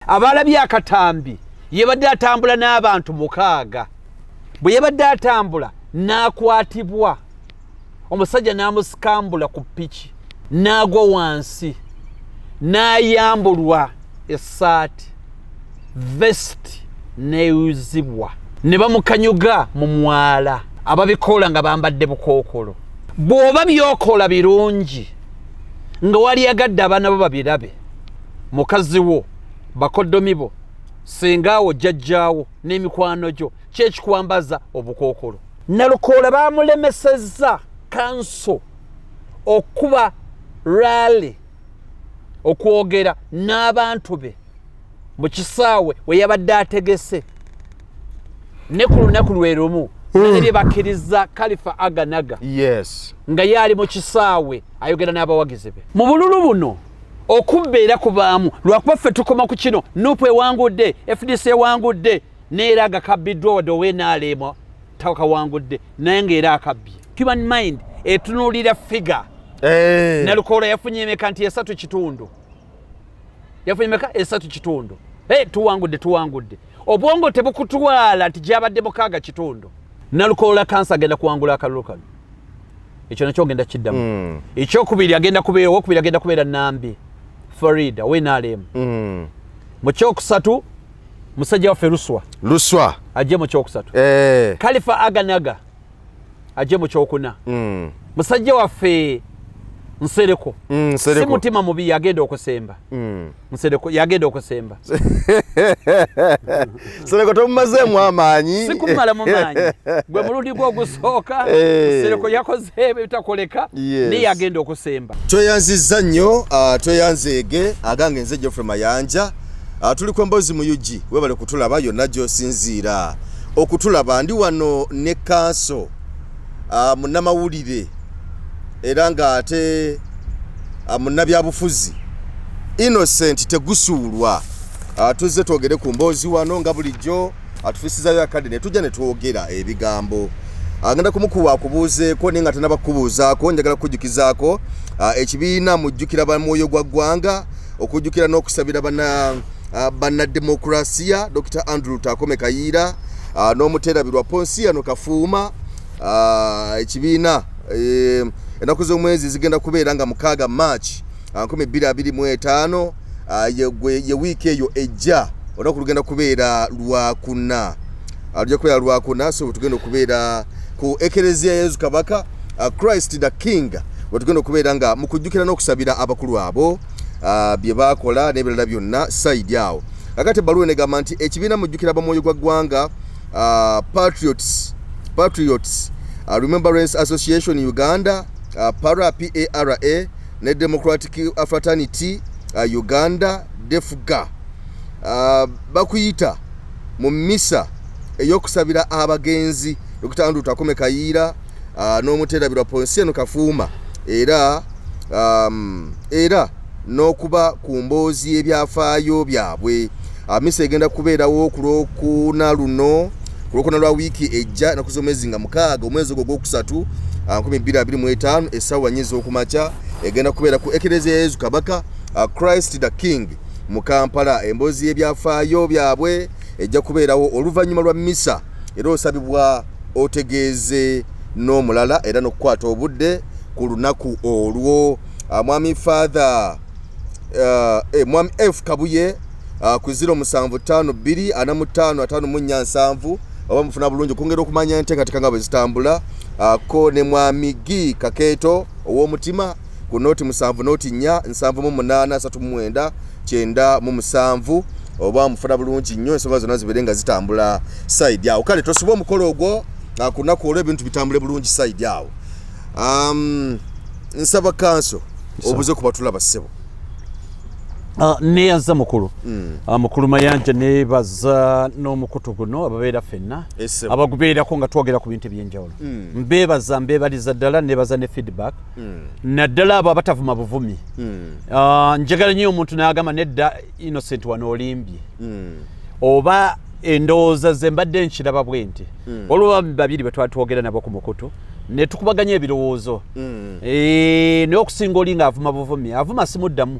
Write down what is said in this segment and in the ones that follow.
abaalabye akatambi yabadde atambula n'abantu mukaaga bwe yabadde atambula n'akwatibwa omusajja n'amusikambula ku piki n'agwa wansi n'ayambulwa essaati vesiti neuzibwa ne bamukanyuga mu mwala ababikoola nga bambadde bukookolo bw'oba byokola birungi nga wali agadde abaana bo babirabe mukazi wo bakoddomi bo sengaawo jjajjaawo n'emikwano gyo kyekikwambaza obukookolo nalukoola baamulemesezza kanso okuba raali okwogera n'abantu be mu kisaawe we yabadde ategese ne ku lunaku lwe lumu nalebye bakkiriza kalifa aganaga nga yaali mu kisaawe ayogera n'abawagizi be mu bululu buno okubba era kubaamu lwakuba ffe tukoma ku kino nupu ewangudde fdc ewangudde neera agakabbiddwa wadde owenaalema takawangudde naye ngaera akabbye human mind etunuulira figa eh. nalukoola yafunye emeka nti esatu kitundu yafunye meka esatu kitundu hey, tuwangudde tuwangudde obwongo tebukutwala nti gyabadde mukaaga kitundu nalukoola kansa agenda kuwangula akalulu kano ekyo nakyo ogenda kiddamu mm. ekyokubiri agenda kubeera owokubiri agenda kubeera nambi farid awenalem mm. mu kyokusatu musajja waffe luswa luswa ajje mu kyokusatu eh. kalifa aganaga ajje mu kyokuna mm. musajja waffe nsereko mm, si mutima mubi yagenda okusemba mm. nsereko yagenda okusemba nsereko tomumazeemu amaanyi sikumala mu maanyi gwe mulundi gwe ogusooka eh. nsereko yakoze ebitakoleka naye yagenda okusemba tweyanziza nnyo ah, tweyanzeege agange nze geoffrey mayanja Ah, tuli ku mbozi mu ug webale kutulaba yonna gyosinziira okutulaba ndi wano ne kanso ah, munnamawulire era ng'ate ah, munnabyabufuzi innocent tegusuulwa tuzze twogere ku mboozi wano nga bulijjo atufisizayo akadde ne tujja ne twogera ebigambo agenda kumukuwa akubuuzeeko naye nga tanabakubuuzaako njagala kukujjukizaako ekibiina mujjukira ba mwoyo gwa ggwanga okujjukira n'okusabira bannademokulaasiya dr andrew takome kayiira n'omuterabirwa ponsiyano kafuuma ekibiina e, ennaku z'omwezi zigenda kubeera nga mukaaga march 225 ye wiiki eyo ejja olunaku lugenda kubeera lwakuna ajja kubeera lwakuna so wetugenda okubeera ku ekereziya yesu kabaka uh, christ the king wetugenda okubeera nga mukujjukira n'okusabira abakulu abo uh, bye baakola n'ebirala byonna saidi awo kakati ebbaluwa enegamba nti ekibiina mujjukira bamwoyo gwa ggwanga uh, patriots patriots uh, remembrance association uganda uh, para para ne democratic fraternity uh, uganda defuga uh, bakuyita mu misa eyokusabira abagenzi dokita andrew takome kayiira uh, n'omuterabirwa ponsieno kafuuma era um, era n'okuba ku mboozi y'ebyafaayo byabwe uh, misa egenda kubeerawo ku lwokuna luno ku lwokuna lwa wiiki ejja enaku z'omwezi nga mukaaga omwezi ogwo ogwokusatu 225 uh, essaawa nyi z'okumakya egenda kubeera ku ekereziya yezu kabaka uh, christ the king mu kampala emboozi y'ebyafaayo byabwe ejja kubeerawo oluvannyuma lwa misa era osabibwa otegeeze n'omulala era n'okukwata obudde ku lunaku olwo ah, mwami father ah, eh, mwami f kabuye ah, ku ziro musanvu taano bbiri ana mu taano ataano mu nnya nsanvu oba mufuna bulungi okwongera okumanya enteekateeka nga bwe zitambula ko ne mwami gi kakeeto ow'omutima ku nooti musanvu nooti nnya nsanvu mu munaana asatu mu mwenda kyenda mu musanvu oba mufuna bulungi nnyo ensonga zonna zibeere nga zitambula saidi awo kale tosiba omukolo ogwo ah, ku lunaku olwo ebintu bitambule bulungi saidi awo um, nsaba kanso obuze ku batula bassebo ah, neyaza mukulu hmm. ah, mukulu mayanja nebaza n'omukutu guno ababeera fenna abagubeerako nga twogera ku bintu ebyenjawulo hmm. mbebaza mbebaliza ddala nebaza ne feedback mm. naddala abo abatavuma buvumi mm. uh, njagala nyo omuntu nagamba nedda innocent wano olimbye mm. oba endowooza ze mbadde nkiraba bwe nti mm. olwoba babiri bwe twali twogera nabo ku mukutu ne tukubaganya ebirowoozo mm. e, naye okusinga oli nga avuma buvumi avuma simuddamu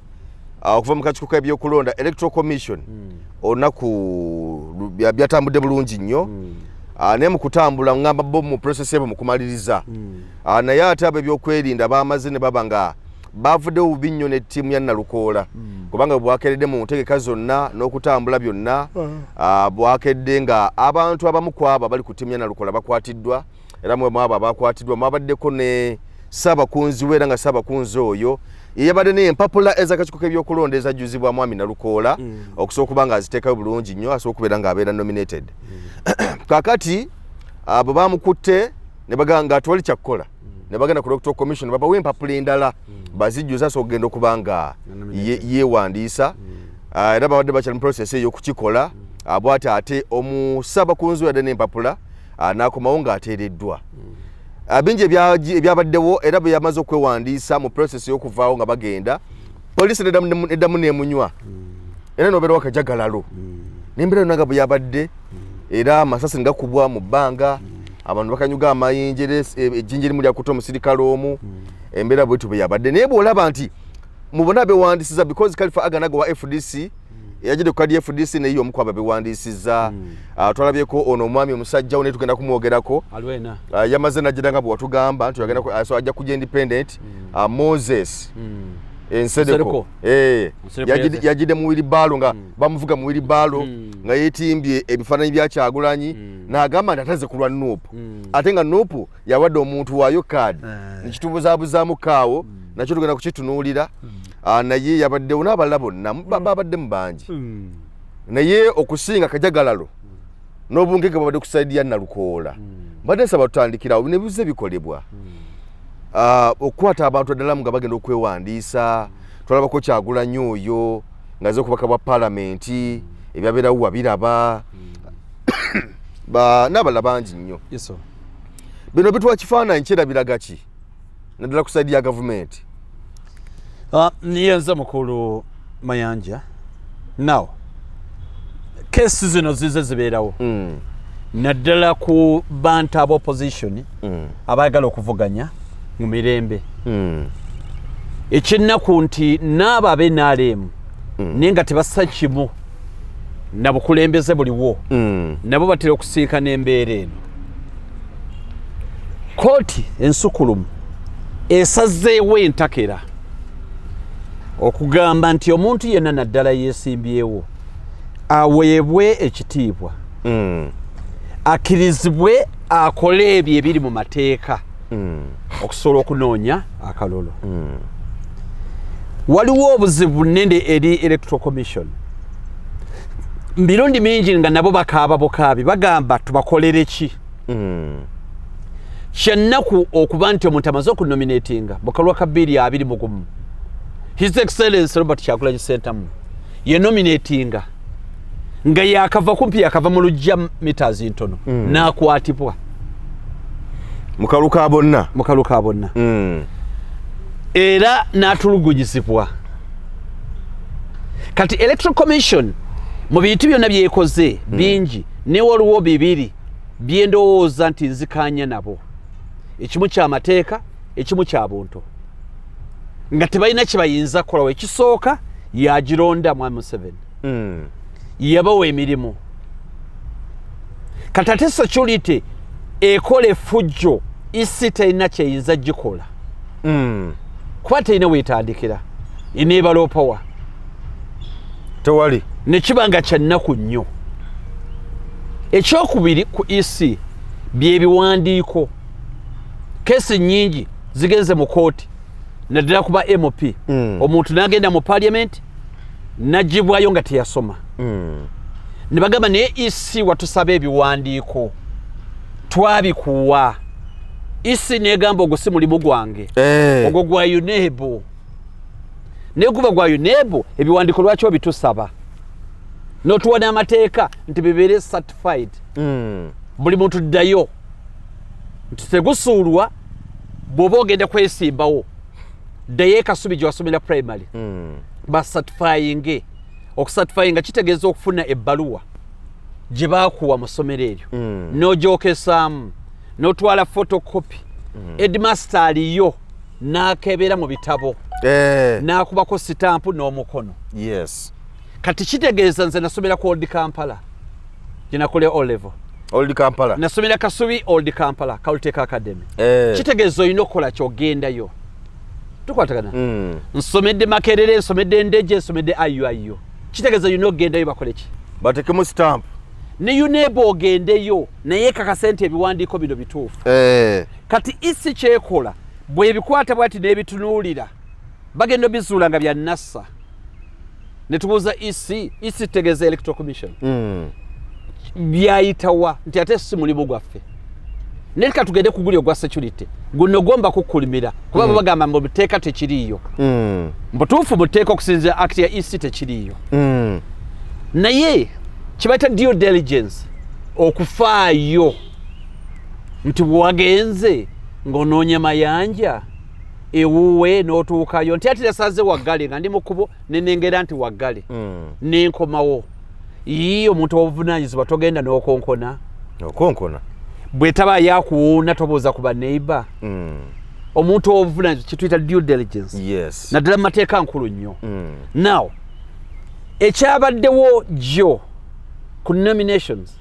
ah, okuva mu kakiiko k'ebyokulonda electoral commission hmm. olunaku byatambudde bulungi nnyo hmm. ah, naye mu kutambula ngamba bo mu process ebo mukumaliriza hmm. ah, naye ate abo ebyokwerinda bamaze ne baba nga bavuddewo bubi nnyo ne ttiimu ya nalukoola kubanga bwakedde mu ntegeka zonna n'okutambula byonna bwakedde nga abantu abamu kwabo abali ku ttiimu ya nalukoola bakwatiddwa era mwe mwabo abakwatiddwa mwabaddeko ne ssaabakunzi we era nga ssaabakunzi oyo yeyabadde naye empapula ezakakiiko k'ebyokulonda ezajjuzibwa mwami nalukoola mm. okusobola okuba nga aziteekayo bulungi nnyo asobola okubeera ng'abeera nominated mm. kakati abo bamukutte ne bagamba nga atwali kyakukola ne bagenda ku doctor commission babawa empapula endala hmm. bazijjuza asobola okugenda okuba nga yeewandiisa hmm. ah, era babadde bakyali mu process eyokukikola hmm. ah, bwati ate omusaba kunzu yadde n'empapula ah, n'akomawo ng'ateereddwa mm. ah, bingi ebyabaddewo era bwe yamaze okwewandiisa mu process y'okuvaawo nga bagenda poliisi eddamu neemunywa mm. era nobeera wakajagalalo mm. nembeera yonna nga bwe yabadde era amasasi ne gakubwa mu bbanga abantu bakanyuga amayinja era e, ejjinja erimu lyakuta omusirikale omu embeera bwetyo bwe yabadde naye bw'olaba nti mubona bewandisiza because kalifa aganago wa fdc yajidde ku kadi fdc naye yomu kwaba bewandiisizza hmm. ah, twalabyeko ono omwami omusajja naye tugenda kumwogerako ah, yamaze najjira nga bwewatugamba nti ah, ajja kuja independent hmm. moses hmm. ensedeko eh, yajidde mu wiribaalo nga bamuvuga mu wiribaalo nga yetimbye ebifaananyi byakyagulanyi naagamba nti ateze kulwa nuupu ate nga nuupu yawadde omuntu waayo kaadi eh. nekitubuzabuzaamu kaawo mm. nakyo tugenda kukitunuulira mm. ah, naye yabaddewo n'abalala bonna mm. babaddemu bangi naye okusinga kajagalalo n'obungege bwabadde kusaidi ya nalukoola mbadde nsaba tutandikirawo nebize bikolebwa ah, okukwata abantu addalamu nga bagenda okwewandiisa tulabako kyagulanyi oyo ngaze okubaka bwa palamenti ebyabeerawo wabiraba n'abalala bangi nnyo bino bituwa kifaananyi kirabiraga ki naddala ku saidi ya gavumenti ah, niye nze mukulu mayanja now kesi zino zize zibeerawo hmm. naddala ku bantu aba opposition hmm. abaagala okuvuganya mu mirembe hmm. ekyennaku nti naabo abenaleemu mm. naye nga tebassa kimu na bukulembeze buliwo mm. nabo batera okusiika n'embeera eno kooti ensukulumu esazeewo entakera okugamba nti omuntu yenna naddala yeesimbyewo aweebwe ekitiibwa mm. akkirizibwe akole ebyo ebiri mu mateeka mm. okusobola okunoonya akalolo mm. waliwo obuzibu nende eri electoral commission mirundi mingi nga nabo bakaaba bukaabi bagamba tubakolere ki mm. kyannaku okuba nti omuntu amaze okunominatinga mukalwa ka biiri abiri mugumu his excellence robert kyagulanyi sentamu yenominatinga nga yakava kumpi yakava mu lujja mitas ntono mm. nakwatibwa mukalu ka bonna mukalu ka bonna mm. era natulugunyizibwa kati electoral commission mu bintu byonna byekoze mm. bingi newe oluwo bibiri byendowooza nti nzikanya nabo ekimu kyamateeka ekimu kya buntu nga tebalina kyebayinza kukolawo ekisooka yagironda mwami museveni mm. yabawa emirimu kati ate security ekola efujjo isi terina kyeyinza gikola mm. kuba terina wetandikira enebaloopawa tewali nekiba nga kyannaku nnyo ekyokubiri ku ec byebiwandiiko kesi nyingi zigenze mu kooti naddala kuba mp mm. omuntu nagenda mu paliament najibwayo nga teyasoma mm. ne bagamba naye isi e watusaba ebiwandiiko twabikuwa isi e negamba ogwo si mulimu gwange eh. ogwo gwa unebu naye guba gwa unebu ebiwandiiko lwaki obitusaba notuwa n'amateeka nti bibeere certified mm. buli muntu ddayo nti tegusuulwa bwoba ogenda kwesimbawo ddayo ekasubi gye wasomera primary mm. basatifayinge okusatifayinga kitegeeza okufuna ebbaluwa gye baakuwa mu ssomero eryo mm. n'ogyokesaamu n'otwala fotokopi mm. edmaster aliyo n'akebeera mu bitabo eh. n'akubako sitampu n'omukono yes kati kitegeeza nze nasomera ku old kampala gyenakolera olevo old kampala nasomera kasubi old kampala kawuliteeka academy eh. kitegeeza olina okukola kyogendayo tukwatagana mm. nsomedde makerere nsomedde ndeje nsomedde iuio kitegeeza olina okugendayo bakoleki batekemu stamp ne uneba ogendeyo naye kakasa nti ebiwandiiko bino bituufu eh. kati isi kyekola bwebikwata bwati nebitunuulira bagenda obizuula nga byanassa netubuuza ec ec tutegeeza electoral commission mm. byayitawa nti ate si mulimu gwaffe naye ka tugende kuguli ogwa security guno gomba kukulimira kuba mm. bagamba mbu buteeka tekiriiyo mm. mbutuufu buteeka okusinzira act ya ec tekiriiyo mm. naye kibaita due diligence okufaayo nti bwewagenze ng'onoonya mayanja ewuwe n'otuukayo nti ati nasaze waggale nga ndi mu kkubo nenengera nti waggale mm. nenkomawo yii omuntu obuvunaanyizibwa togenda n'okonkona okonkona bwetaba yakuwuuna tobuuza ku baneighbor mm. omuntu obuvunaanyizibwa kyetuyita due diligence yes. naddala mu mateeka nkulu nnyo mm. now ekyabaddewo jjo ku nominations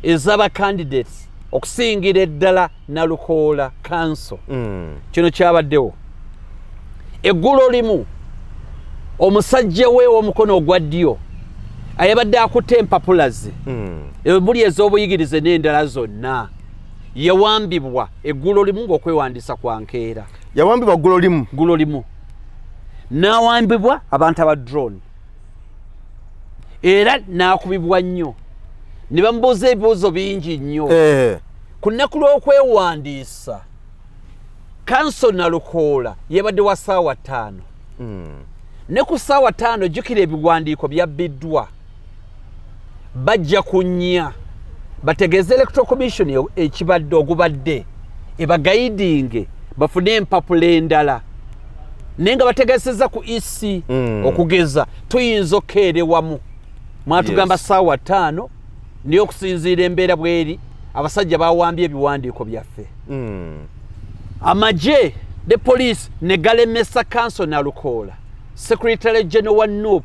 ezaba candidates okusingira eddala nalukoola kanso mm. kino kyabaddewo eggulo limu omusajja we omukono ogwa ddyo ayabadde akutte empapula ze mm. ebuli ez'obuyigirize n'endala zonna yawambibwa eggulo limu ng'okwewandiisa kwa nkeera yawambibwa ggulo limu ggulo limu n'awambibwa abantu aba drone era n'akubibwa nnyo ne bamubuuza ebibuuzo bingi nnyo eh. ku nnaku lw'okwewandiisa kanso nalukoola yebadde wa saawa ttaano hmm. ne ku saawa ttaano jjukira ebiwandiiko byabbiddwa bajja kunya bategeeze electoral commission e-, ekibadde ogubadde ebagayidinge bafune empapula endala naye nga bategeeseza ku ec hmm. okugeza tuyinza okukeerewamu mwatugamba saawa ttaano naye okusinziira embeera bweri abasajja bawambye ebiwandiiko byaffe hmm. amagye ne poliisi ne galemesa kanso nalukoola secretary general wa nup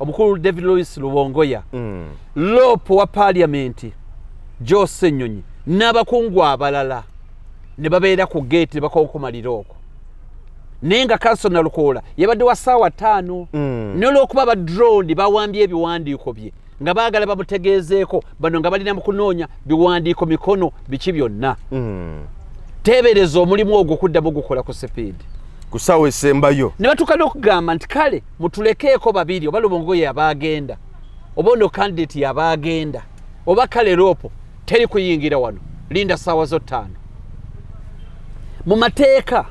omukulu david louis lubongoya hmm. loopu wa paliamenti jose nyonyi n'abakungu abalala ne babeera ku geeti ne bakonkomalira okwo naye nga kanso nalukoola yabadde wa saawa ttaano hmm. nolwokuba badrondi bawambye ebiwandiiko bye nga baagala bamutegeezeeko bano nga balina mu kunoonya biwandiiko mikono biki byonna hmm. teebereza omulimu ogwo okuddamu ogukola ku sipiidi ku saawa esembayo ne batuuka n'okugamba nti kale mutulekeeko babiri oba lubongo yabaagenda oba ono kandidati yabaagenda oba kale loopo teri kuyingira wano linda saawa zo ttaano mu mateeka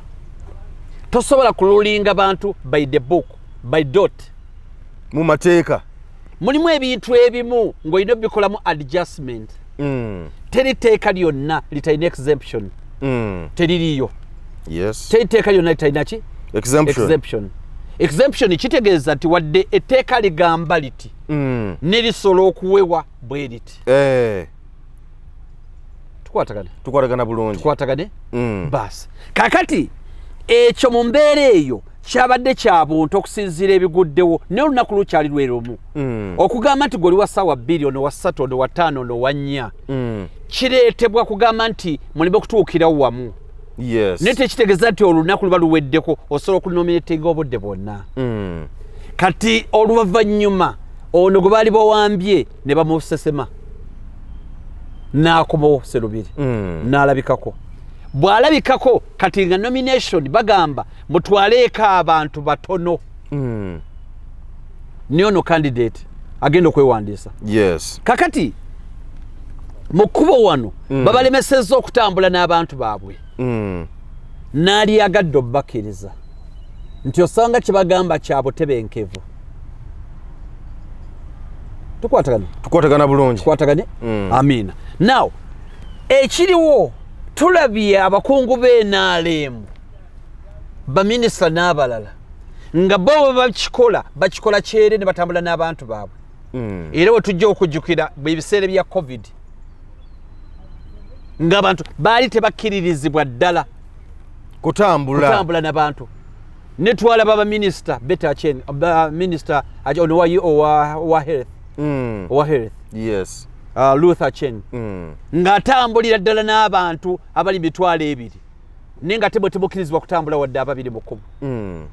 tosobola kululinga bantu by the book by dot mu mateeka mulimu ebintu ebimu ng'olina obikolamu adjustment mm. teri teeka lyonna litalina exemption mm. teririyo yes. teri teeka lyonna litalina ki exemption, exemption exemption kitegeeza nti wadde etteeka ligamba liti mm. nerisola okuwewa bwe liti eh. tukwatagana tukwatagana bulungi tukwatagane mm. basi kakati ekyo mu mbeera eyo kyabadde kya buntu okusinziira ebiguddewo naye olunaku lukyali lwerumu mm. okugamba nti gweoli wa ssaawa bbiri ono wa ssatu ono wa ttaano ono wa nnya mm. kireetebwa kugamba nti muleme okutuukirawo wamu yes. naye tekitegeeza nti olunaku luba luweddeko osobola okunominatinga obudde bwonna mm. kati oluvannyuma ono gwe baali bawambye ne bamusesema n'akomawo serubiri mm. n'alabikako bw'alabikako kati nga nomination bagamba mutwaleeko abantu batono mm. ne ono candidate agenda okwewandiisa yes. kakati mu kkubo wano mm. babalemesezza okutambula n'abantu baabwe mm. n'alyagadde obubakkiriza nti osanga kye bagamba kya butebenkevu tukwatagana tukwatagana bulungi tukwataganye mm. amiina now ekiriwo tulabye abakungu b'enaaleemu baminisita n'abalala nga bo bwe bakikola bakikola kyere ne batambula n'abantu baabwe mm. era we tujja okujjukira ebiseera bya covid ng'abantu baali tebakkiririzibwa ddala kutambula kutambula nabantu netwala baba minister better chain ba minister ajo no wayi o wa wa health mm. wa health yes uh, luther chain mm. ngatambulira dala n'abantu abali bitwala ebiri ninga tebo tebo kilizwa kutambula wadde ababiri mukumu mm.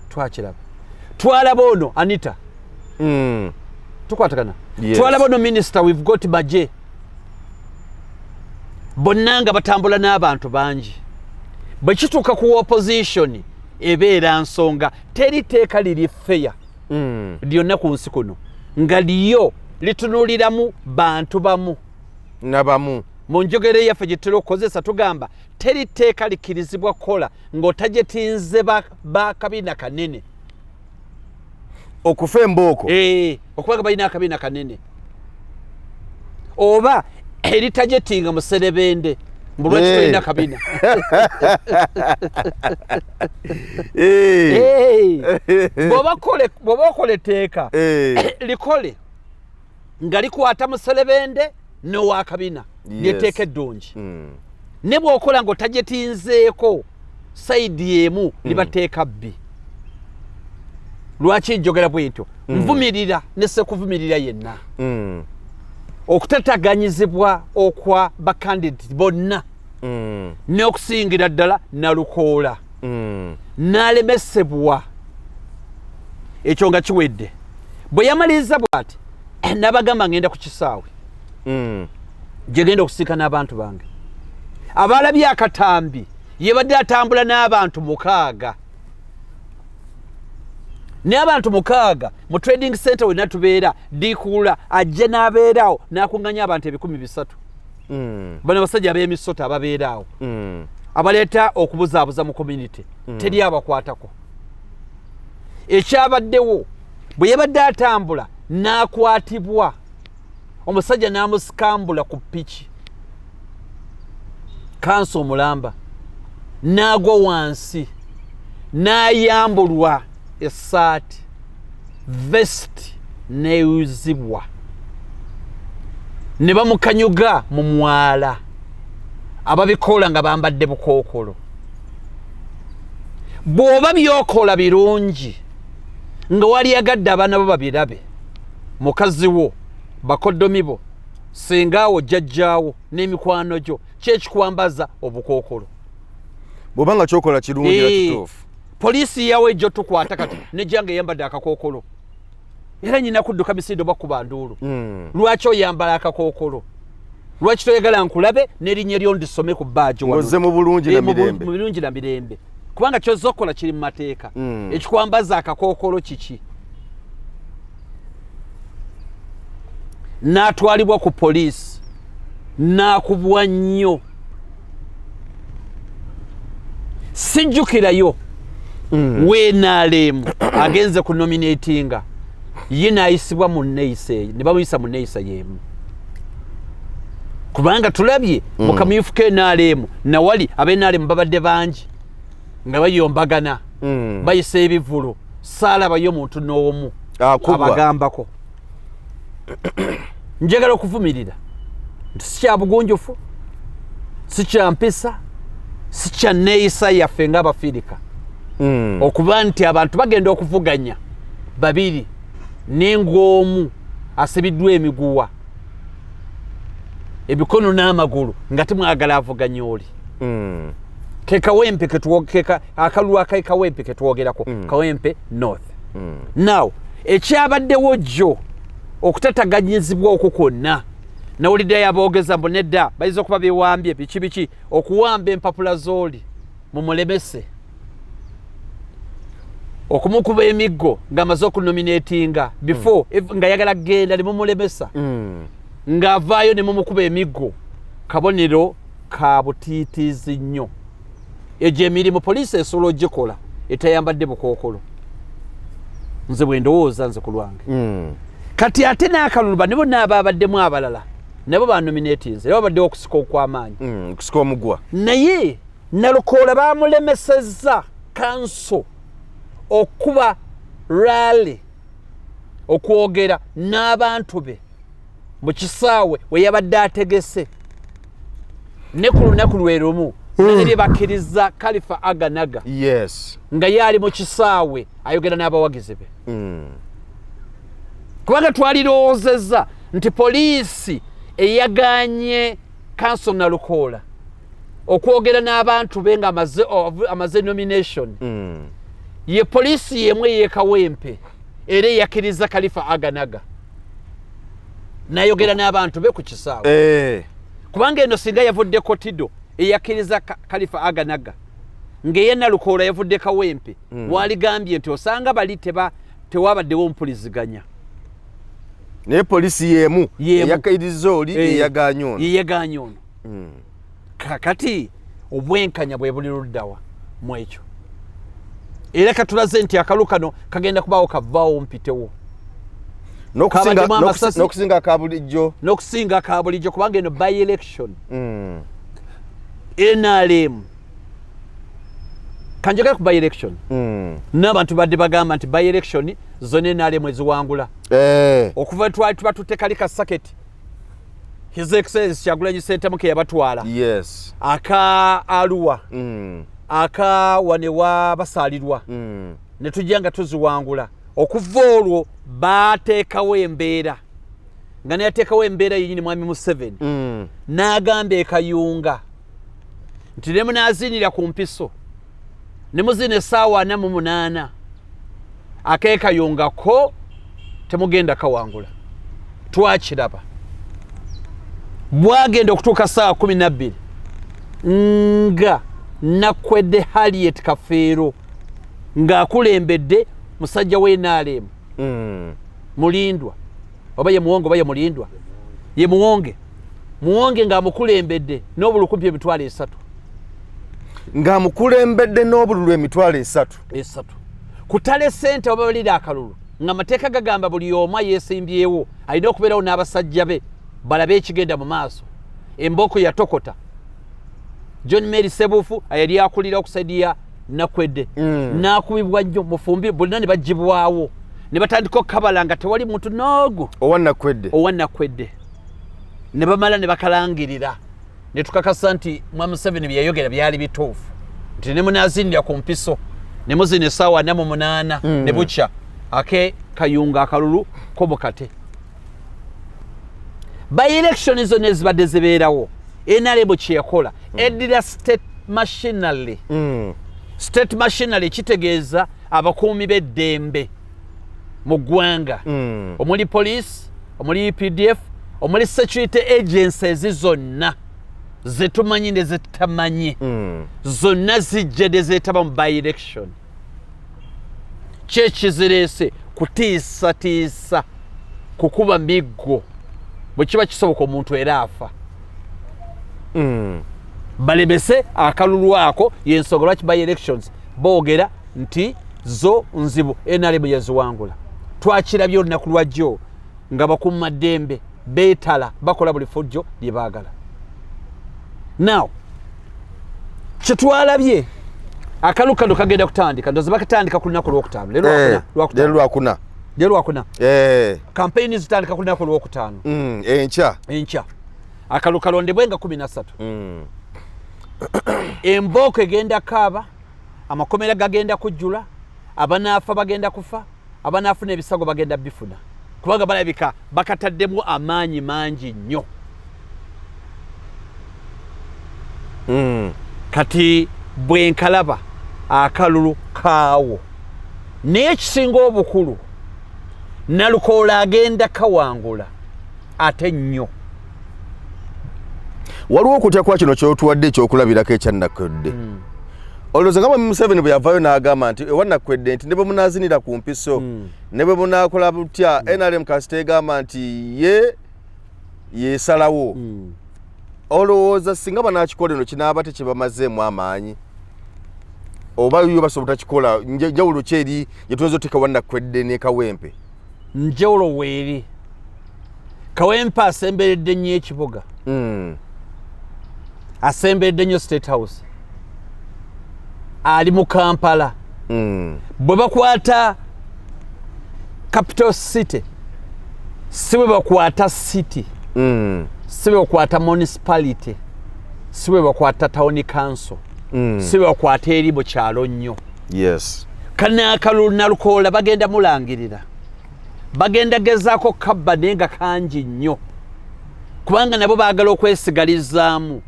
twakiraba twalaba ono anita mm. tukwatagana yes. twalaba ono minister we've got baje bonna nga batambula n'abantu bangi bwe kituuka ku opposition ebeera nsonga teri teeka liri feya mm. lyonna ku nsi kuno nga liyo litunuliramu bantu bamu nabamu mu njogera eyaffe gye tutera okukozesa tugamba teri tteeka likkirizibwa kukola ng'otajetinze bakabina kanene okufa embooko eh, okubaga balina akabina kanene oba eritajetinga muserebende mbulwakitolina eh. kabina eh. bwoba okola etteeka likole nga likwata muselebende nowakabina lyetteeka eddungi hmm. ne bwokola nga otajetinzeeko saidi emu hmm. libateeka bbi lwaki njogera bwentyo hmm. nvumirira nesekuvumirira yenna okutataganyizibwa okwa bakandidati bonna mm. n'okusingira ddala nalukoola mm. n'alemesebwa ekyo nga kiwedde bwe yamaliriza bwati eh, nabagamba ngenda ku kisaawe mm. gye genda okusiika n'abantu bange abaalabye akatambi yebadde atambula n'abantu mukaaga n'abantu mukaaga mu trading center wenna tubeera dikuula ajje n'abeeraawo n'akuŋŋanya abantu ebikumi bisatu mm. bano abasajja abemisota ababeera awo mm. abaleeta okubuzaabuza mu community mm. teri abakwatako ekyabaddewo bwe yabadde atambula n'akwatibwa omusajja n'amusikambula ku piki kansa omulamba n'agwa wansi n'ayambulwa essaati vest neyuzibwa ne bamukanyuga mu mwala ababikoola nga bambadde bukookolo bw'oba byokola birungi nga waliyagadde abaana bo babirabe mukazi wo bakodomi bo singaawo jjajjaawo n'emikwano gyo kyekikwambaza obukookolo bw'oba nga kyokola kirungi era kituufu poliisi yawo ejja otukwata kati nejjanga eyambadde akakookolo era nyina kudduka misindo bakuba nduulu hmm. lwaki oyambala akakookolo lwaki toyagala nkulabe nerinnya eryo ndisome ku baajoze eh, mu bulungi na mirembe kubanga kyozza okukola kiri mu mateeka hmm. ekikwambaza akakookolo kiki n'atwalibwa ku poliisi n'akubwa nnyo sijjukirayo mm. wenaleemu agenze ku nominatinga ye nayisibwa mu neyisa eyo ne bamuyisa mu neyisa yeemu kubanga tulabye mm. mu kamyufu ke naleemu nawali abenaleemu babadde bangi nga bayombagana mm. bayisa ebivulu saalabayo omuntu n'omu abagambako njagala okuvumirira nti sikyabugunjufu sikyampisa sikyanneeyisa yaffe ngaabafiirika mm. okuba nti abantu bagenda okuvuganya babiri neng'omu asibiddwa emiguwa ebikono n'amagulu nga timwagala avuganya oli mm. kekawempe kekawempe ketwogerako mm. kawempe north mm. now ekyabaddewo jjo okutataganyizibwa okwo kwonna nawulidde yaboogeza mbu nedda bayinza okuba bewambye biki biki okuwamba empapula z'oli mumulemese okumukuba emiggo ng'amaze okunominatinga before mm. nga yagala kugenda ne mumulemesa mm. ng'avaayo ne mumukuba emiggo kabonero ka butiitiizi nnyo egyo emirimu poliisi esobola ogikola etayambadde bukookolo nze bwe ndowooza nze ku lwange hmm. kati ate n'akaluluba nibo naaba abaddemu abalala nabo banominatinze era babaddewo okusika okw'amaanyi hmm, okusika omugwa naye nalukoola bamulemesezza kanso okuba rally okwogera n'abantu be mu kisaawe we yabadde ategese ne ku lunaku lwe lumu nalabye bakkiriza kalifa aganaga nga yaali mu kisaawe ayogera n'abawagizi be mm. kubanga twalirowoozezza nti poliisi eyaganye kanso nalukoola okwogera n'abantu be nga amaze nomination mm. ye poliisi yemu eyekawempe era eyakkiriza kalifa aganaga nayogera n'abantu be ku kisaawe eh. kubanga eno singa yavudde kotido eyakkiriza kalifa aganaga ng'eye nalukoola yavudde kawempe hmm. waligambye nti osanga bali teba tewabaddewo ompuliziganya naye polisi yemu eyakairiza oli eyaganya ono hmm. kakati obwenkanya bwe buli luddawa mu ekyo era katulaze nti akalu kano kagenda kubaawo kavaawo mpitewo nokusinga akabulijjo nokusinga akabulijjo kubanga eno by election mm. nrm kanjogera ku by election mm. n'abantu badde bagamba nti by election zona nrm eziwangula eh. okuva twali tuba tutekali ka saketi his excellence kyagulanyi sentamu ke yabatwala yes aka aluwa mm. aka wane wa basalirwa mm. ne tujja nga tuziwangula okuva olwo baateekawo embeera nga neyateekawo embeera yenyini mwami museveni mm. n'agamba ekayunga nti ne munaaziinira ku mpiso ne muzina esaawa ana mu munaana akekayongako temugenda kawangula twakiraba bwagenda okutuuka saawa kumi nabbiri nga nakwedde haliet kafeero ng'akulembedde musajja w'enaaleemu mm. mulindwa oba ye muwonge oba ye mulindwa ye muwonge muwonge ng'amukulembedde n'obulu kumpi emitwalo esatu ng'amukulembedde n'obululu emitwalo esatu esatu kutala esente oba balira akalulu nga mateeka gagamba buli omu ayesimbyewo alina okubeerawo n'abasajja be balabe ekigenda mu maaso embooko yatokota john mary sebufu ayali akulira okusaidi ya nakwedde mm. nakubibwa nnyo mufumbi bonna ne bagibwawo ne batandika okukabala nga tewali muntu noogu owa nakwedde owa nakwedde ne bamala ne bakalangirira ne tukakasa nti mwa museveni bye yayogera byali bituufu nti ne munazinira ku mpiso ne muzina esaawa namu munaana mm. ne bukya ake kayunga akalulu kobukate baelektion zona ezibadde zibeerawo enarebo kyeyakola mm. eddira state machinery mm. state machinery kitegeeza abakuumi b'eddembe mu ggwanga mm. omuli police omuli updf omuli security agencies zonna zetumanyi ne zetamanyi mm. zonna zijja ne zeetaba mu by election kyekizireese kutiisatiisa kukuba miggo bwe kiba kisoboka omuntu era afa mm. balemese akalulu ako yensonga lwaki by elections boogera nti zo nzibu nrm yaziwangula twakirabye olunaku lwajjo nga bakuuma ddembe betala bakola buli fujjo lyebagala now kyetwalabye akalu kano kagenda kutandika ndoze bakatandika ku lunaku lwokutaano eh, lwakuna lwakuna eh. kampeyini zitandika ku lunaku lwokutaano mm, enkya enkya akalu kalondebwe nga kumi nasatu mm. embooko egenda kaaba amakomera gagenda kujjula abanaafa bagenda kufa abanaafuna ebisago bagenda bifuna kubanga balabika bakataddemu amaanyi mangi nnyo hmm. kati bwenkalaba akalulu kaawo naye ekisinga obukulu nalukoola agenda kawangula ate nnyo waliwo okutya kwa kino kyotuwadde ekyokulabirako ekyannakwedde hmm. olowooza nga mwami museveni bwe yavayo n'agamba nti ewanakwedde nti ne bwe munaazinira ku mpiso hmm. ne bwe munaakola butya hmm. nrm kasita egamba nti ye yesalawo olowooza singa banakikola eno kinaaba tekibamazeemu amaanyi oba yo basobola obutakikola njawulo ki eri gye tuyinza oteeka wanakwedde nekawempe njawulo weeri kawempe asemberedde nnyo ekibuga hmm. asemberedde nnyo state house ali mu kampala hmm. bwe bakwata capital city si bwe bakwata city hmm. si bwe bakwata municipality si bwe bakwata town council mm. mm. si bakwata eri mu kyalo nnyo yes. kanaakalulu nalukoola bagenda mulangirira bagenda gezaako kabba naye nga kangi nnyo kubanga nabo baagala okwesigalizaamu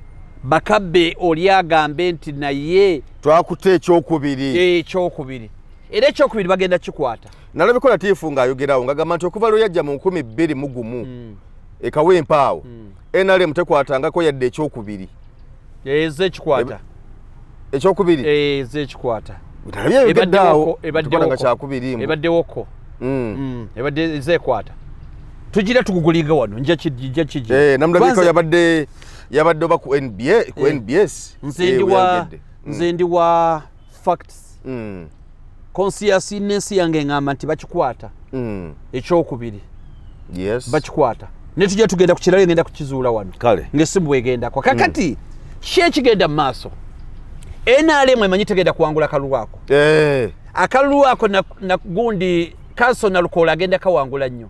bakabbe oli agambe nti naye twakuta ekyokubiri eh, ekyokubiri era ekyokubiri bagenda kikwata nalabiko latiifu ng'ayogerawo ngagamba nti okuva lweyajja mu nkumi bbiri mu gumu mm. ekawempaawo mm. nrm tekwatangako yadde ekyokubiri eze ekikwata ekyokubiri eh, eze ekikwata ebaddewoko mm. mm, ebadde eze ekwata tugira tugugulinga wano nja kiji eh, namulabika yabadde yabadde oba ku nba ku eh, nbs nze ndi wa facts mm. conscious nensi yange ngamba nti bakikwata mm. ekyokubiri yes. bakikwata ne tujja tugenda ku kirala egenda kukizuula wano kale ngesimu bwegendako kakati mm. ki ekigenda mu maaso nrm emanyi tegenda kuwangula kalulu ako eh. akalulu ako nagundi kanso nalukoola agenda kawangula nnyo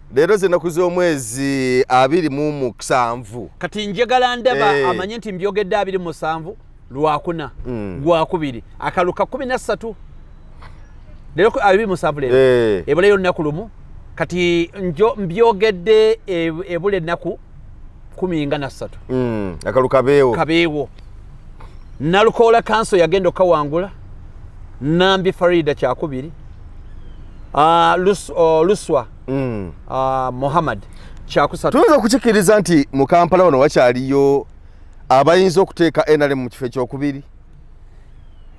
leero zenaku z'omwezi abiri mu musanvu kati njagala ndaba eh. amanye nti mbyogedde abiri musanvu lwakuna mm. gwakubiri akalu ka kumi nassatu leero abiri musanvu leero eh. ebulayo lunaku lumu kati njo mbyogedde e, ebula ennaku kumi nga nassatu mm, akalu kabeewo kabeewo nalukoola kanso yagenda okukawangula nambi farida kyakubiri uh, lus, uh, luswa mm. uh, muhammad kyakusatu tuyinza okukikiriza nti mu kampala wano wakyaliyo abayinza okuteeka nrm mu kifo ekyokubiri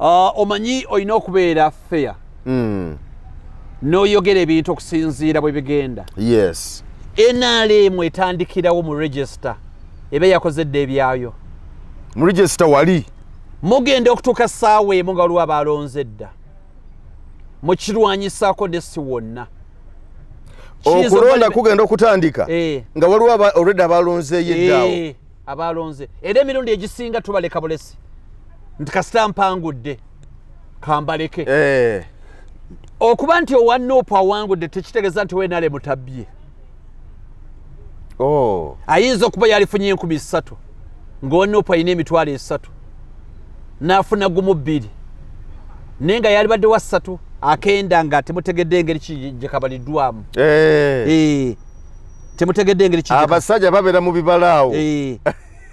Ah, omanyi olina okubeera fair mm. noyogera ebintu okusinziira bwe bigenda yes nrm etandikirawo mu register eba yakoze dda ebyayo mu register wali mugenda okutuuka saawa emu nga waliwo abaalonze dda mukirwanyisako nesi wonna okulonda kugenda okutandika eh. nga waliwo already abaalonzeeyo eddaawo eh. abaalonze era emirundi egisinga tubaleka bulesi nti kasita mpangudde kambaleke eh. okuba nti owa nuupu awangudde tekitegeeza nti wenale mutabbye oh. ayinza okuba yalifunye enkumi ssatu ngaowa nuupu alina emitwalo esatu n'afuna gumu bbiri naye nga yalibadde wa ssatu akenda nga temutegedde engeri kigye kabaliddwamu eh. eh. temutegedde engeri kijja abasajja babera mu bibala awo eh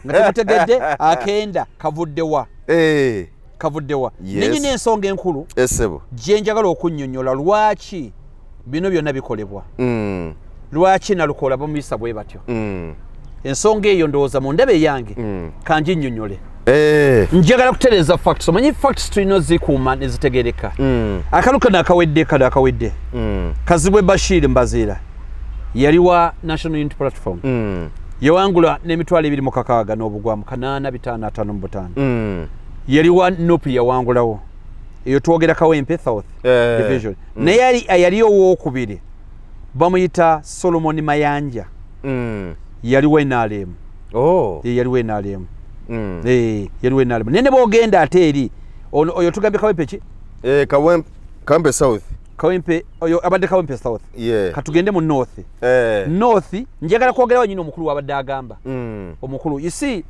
nga temutegedde akenda kavudde wa eh kavudde wa yes. nenyi n'ensonga enkulu esebo eh, gye njagala okunnyonnyola lwaki bino byonna bikolebwa mm. lwaki nalukola bamuyisa bwe batyo mm. ensonga eyo ndowooza mu ndaba eyange mm. kangi nnyonnyole Eh. njagala kutereeza facts omanyi facts tulina ozikuuma nezitegereka mm. akalu kano akawedde kano akawedde mm. kazibwe bashir mbaziira yali wa national unit platform mm. yawangula n'emitwalo ebiri mu kakaaga n'obugwamu kanaana bitaano ataano mu butaano mm. yali wa nup yawangulawo eyo twogera kawempe south eh. division mm. naye yali owokubiri bamuyita solomoni mayanja mm. yali wa nrm oh. e, yaliwo enalemu mm. e, yaliwo enalemu naye ne bogenda ate eri oyo tugambye kawempe ki e, kawempe south kawempe oyo abadde kawempe south yeah. katugende mu north eh. north njagala kwogerawo nyini omukulu wabadde agamba mm. omukulu you see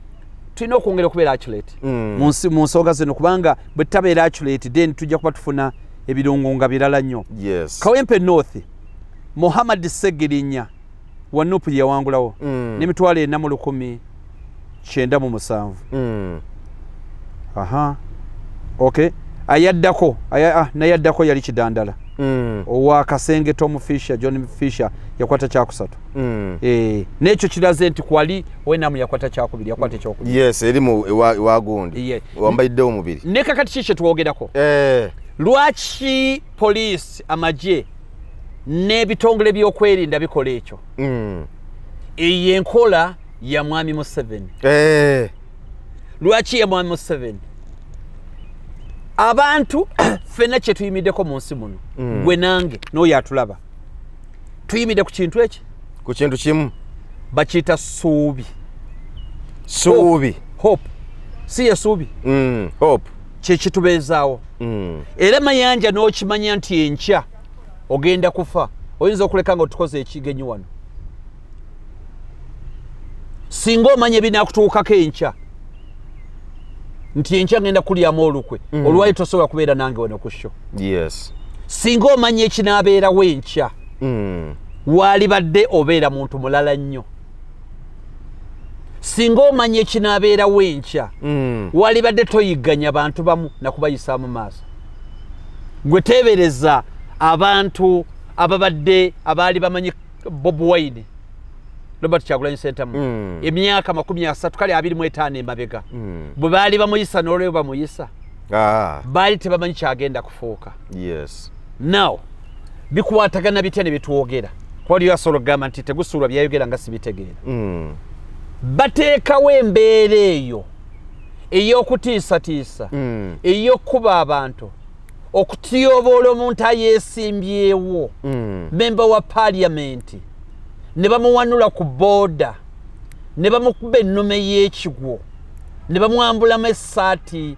tulina okwongera okubeera acculate mm. mu nsonga zino kubanga bwe tutabeera acculate then tujja kuba tufuna ebirungo nga birala nnyo yes. kawempe north muhammad segirinya wa nupu gye yawangulawo mm. n'emitwalo ena mu lukumi kyenda mu musanvu mm. aha okay ayaddako aya, ah, naye addako yali kidandala mm. owa kasenge tom fisher john fisher yakwata kyakusatu mm. e, nekyo kiraze nti kwali wenamu yakwata kyakubiri yakwata ekyokubiri yes eri mu ewagundi yeah. wambaiddewo mubiri nekakati ki kyetwogerako eh. lwaki poliisi amagye n'ebitongole by'okwerinda bikola ekyo mm. eyo enkola ya mwami museveni eh. lwaki ya mwami museveni abantu fenna kyetuyimiddeko mu nsi muno mm. gwe nange n'oyo atulaba tuyimidde ku kintu eki ku kintu kimu bakiyita suubi suubi hope si ye suubi mm, hope kyekitubeezaawo mm. era mayanja n'okimanya nti enkya ogenda kufa oyinza okuleka nga otukoze ekigenyi wano singa omanya ebinakutuukako enkya nti enkya ngenda kulyamu olukwe mm. olwali tosobola kubeera nange wano ku sho yes. singa omanya ekinaabeerawo enkya mm. waalibadde obeera muntu mulala nnyo singa omanya ekinaabeerawo enkya mm. walibadde toyigganya bantu bamu nakubayisaamu maaso gwe teebereza abantu ababadde abaali bamanyi bob wine robert kyagulanyi sentamu mm. emyaka makumi asatu kale abiri mu etaano emabega mm. bwe baali bamuyisa n'olweyo bamuyisa ah. baali tebamanyi kyagenda kufuuka yes. now bikwatagana bitya ne bitwogera kuba waliyo asobola okugamba nti tegusuulwa byayogera nga sibitegeera mm. bateekawo embeera eyo ey'okutiisatiisa mm. ey'okukuba abantu okutyoboola omuntu ayeesimbyewo mm. memba wa paliyamenti ne bamuwanula ku booda ne bamukuba ennume y'ekigwo ne bamwambulamu essaati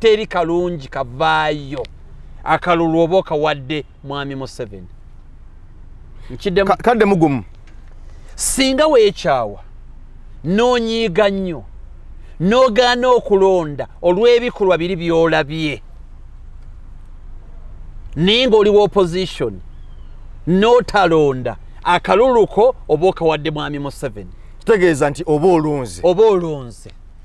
teri kalungi kavaayo akalulu oba okawadde mwami museven nkiddemu kadde mugumu singa weekyawa n'onyiiga nnyo n'ogaana okulonda olw'ebikolwa biri by'olabye naye ng'oli wa opposition n'otalonda akaluluko oba okawadde mwami museveni kitegeeza nti oba olunze oba olunze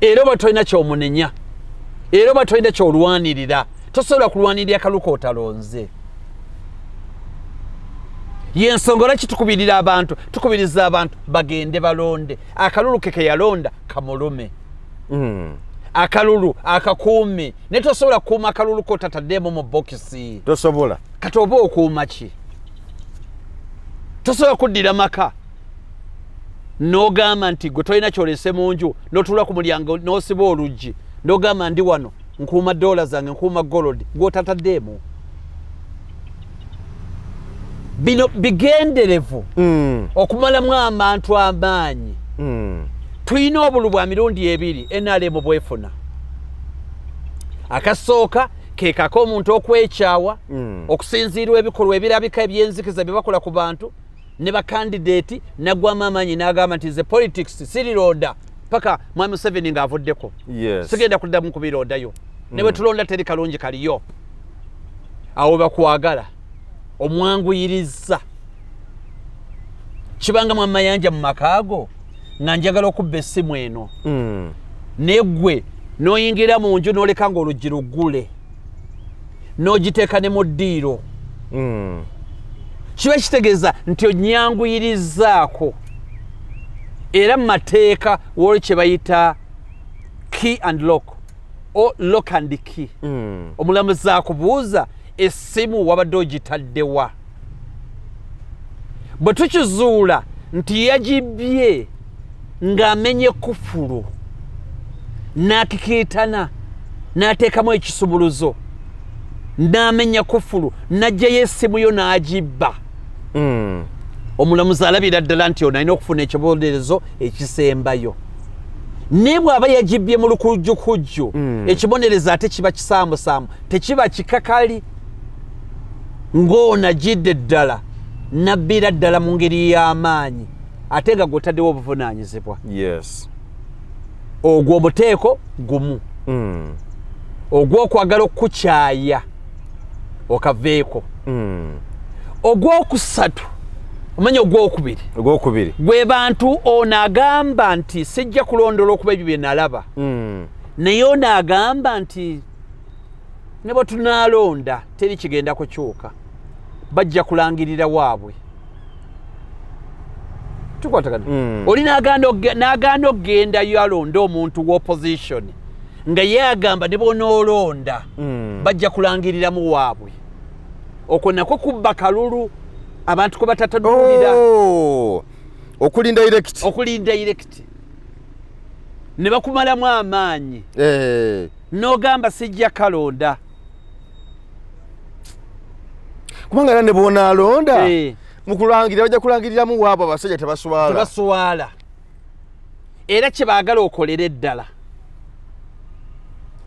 era oba tolina kyomunenya era oba tolina kyolwanirira tosobola kulwanirira kaluka otalonze yensonga olwaki tukubirira abantu tukubiriza abantu bagende balonde akalulu ke keyalonda kamulume mm. akalulu akakuumi naye tosobola kukuuma akalulu kotataddeemu mu bokisi tosobola kati oba okuuma ki tosobola kuddira maka nogamba nti gwe tolina kyolese mu nju notula ku mulyango nosiba oluggi nogamba ndi wano nkuuma dola zange nkuuma golodi gwotataddeemu bino bigenderevu mm. okumalamu amantu amaanyi mm. tulina obulu bwa mirundi ebiri nrm bwefuna akasooka kekako omuntu okwekyawa mm. okusinziirwa ebikolwa ebirabika ebyenzikiza byebakola ku bantu ne bakandideeti nagwamu amaanyi n'agamba nti ze politics sirirooda paka mwami museveni ng'avuddeko sigenda kuddamu kubiroodayo ne bwe mm. tulonda teri kalungi kaliyo awo bakwagala omwanguyiriza kibanga mu amayanja mu makaago nga njagala okubba essimu eno mm. naye ggwe n'oyingira mu nju n'oleka ng'oluggi luggule n'ogiteeka ne mu ddiiro mm. kiba kitegeeza nti onyanguyirizzaako era mu mateeka waliwo kye bayita key and lock o lock and key mm. omulamuzi akubuuza essimu wabadde ogitaddewa bwe tukizuula nti yagibbye ng'amenye kufulu n'akikiitana n'ateekamu ekisubuluzo n'amenya kufulu n'aggyayo essimu yo n'agibba hmm. omulamuzi alabira ddala nti ono alina okufuna ekibonerezo ekisembayo naye bw'aba yagibbye mu lukujjukujju hmm. ekibonerezo ate kiba kisaamusaamu tekiba kikakali ng'ono ajidde ddala nabbira ddala mu ngeri y'amaanyi ate nga gwotaddewo obuvunaanyizibwa ogwo omuteeko gumu hmm. ogw'okwagala okukukyaya okaveeko hmm. ogwokusatu omanya ogwokubiri ogwokubiri gwe bantu ono agamba nti sijja kulondoola okuba ebyo bye nalaba hmm. naye ono agamba nti ne bwe tunaalonda teri kigenda kukyuka bajja kulangirira waabwe tukwatagana mm. oli n'agaana okugendayo alonde omuntu w'opposition nga ye agamba ne bonoolonda mm. bajja kulangiriramu waabwe okwo nakwo kubba kalulu abantu kwe batatanulira oh. okulinda irekiti okulinda irekiti ne bakumalamu amaanyi hey. Eh. nogamba sijja kalonda kubanga era ne bwonaalonda eh. mukulangirira bajja kulangiriramu waabo abasajja tebaswala tebaswala era kyebaagala okolere eddala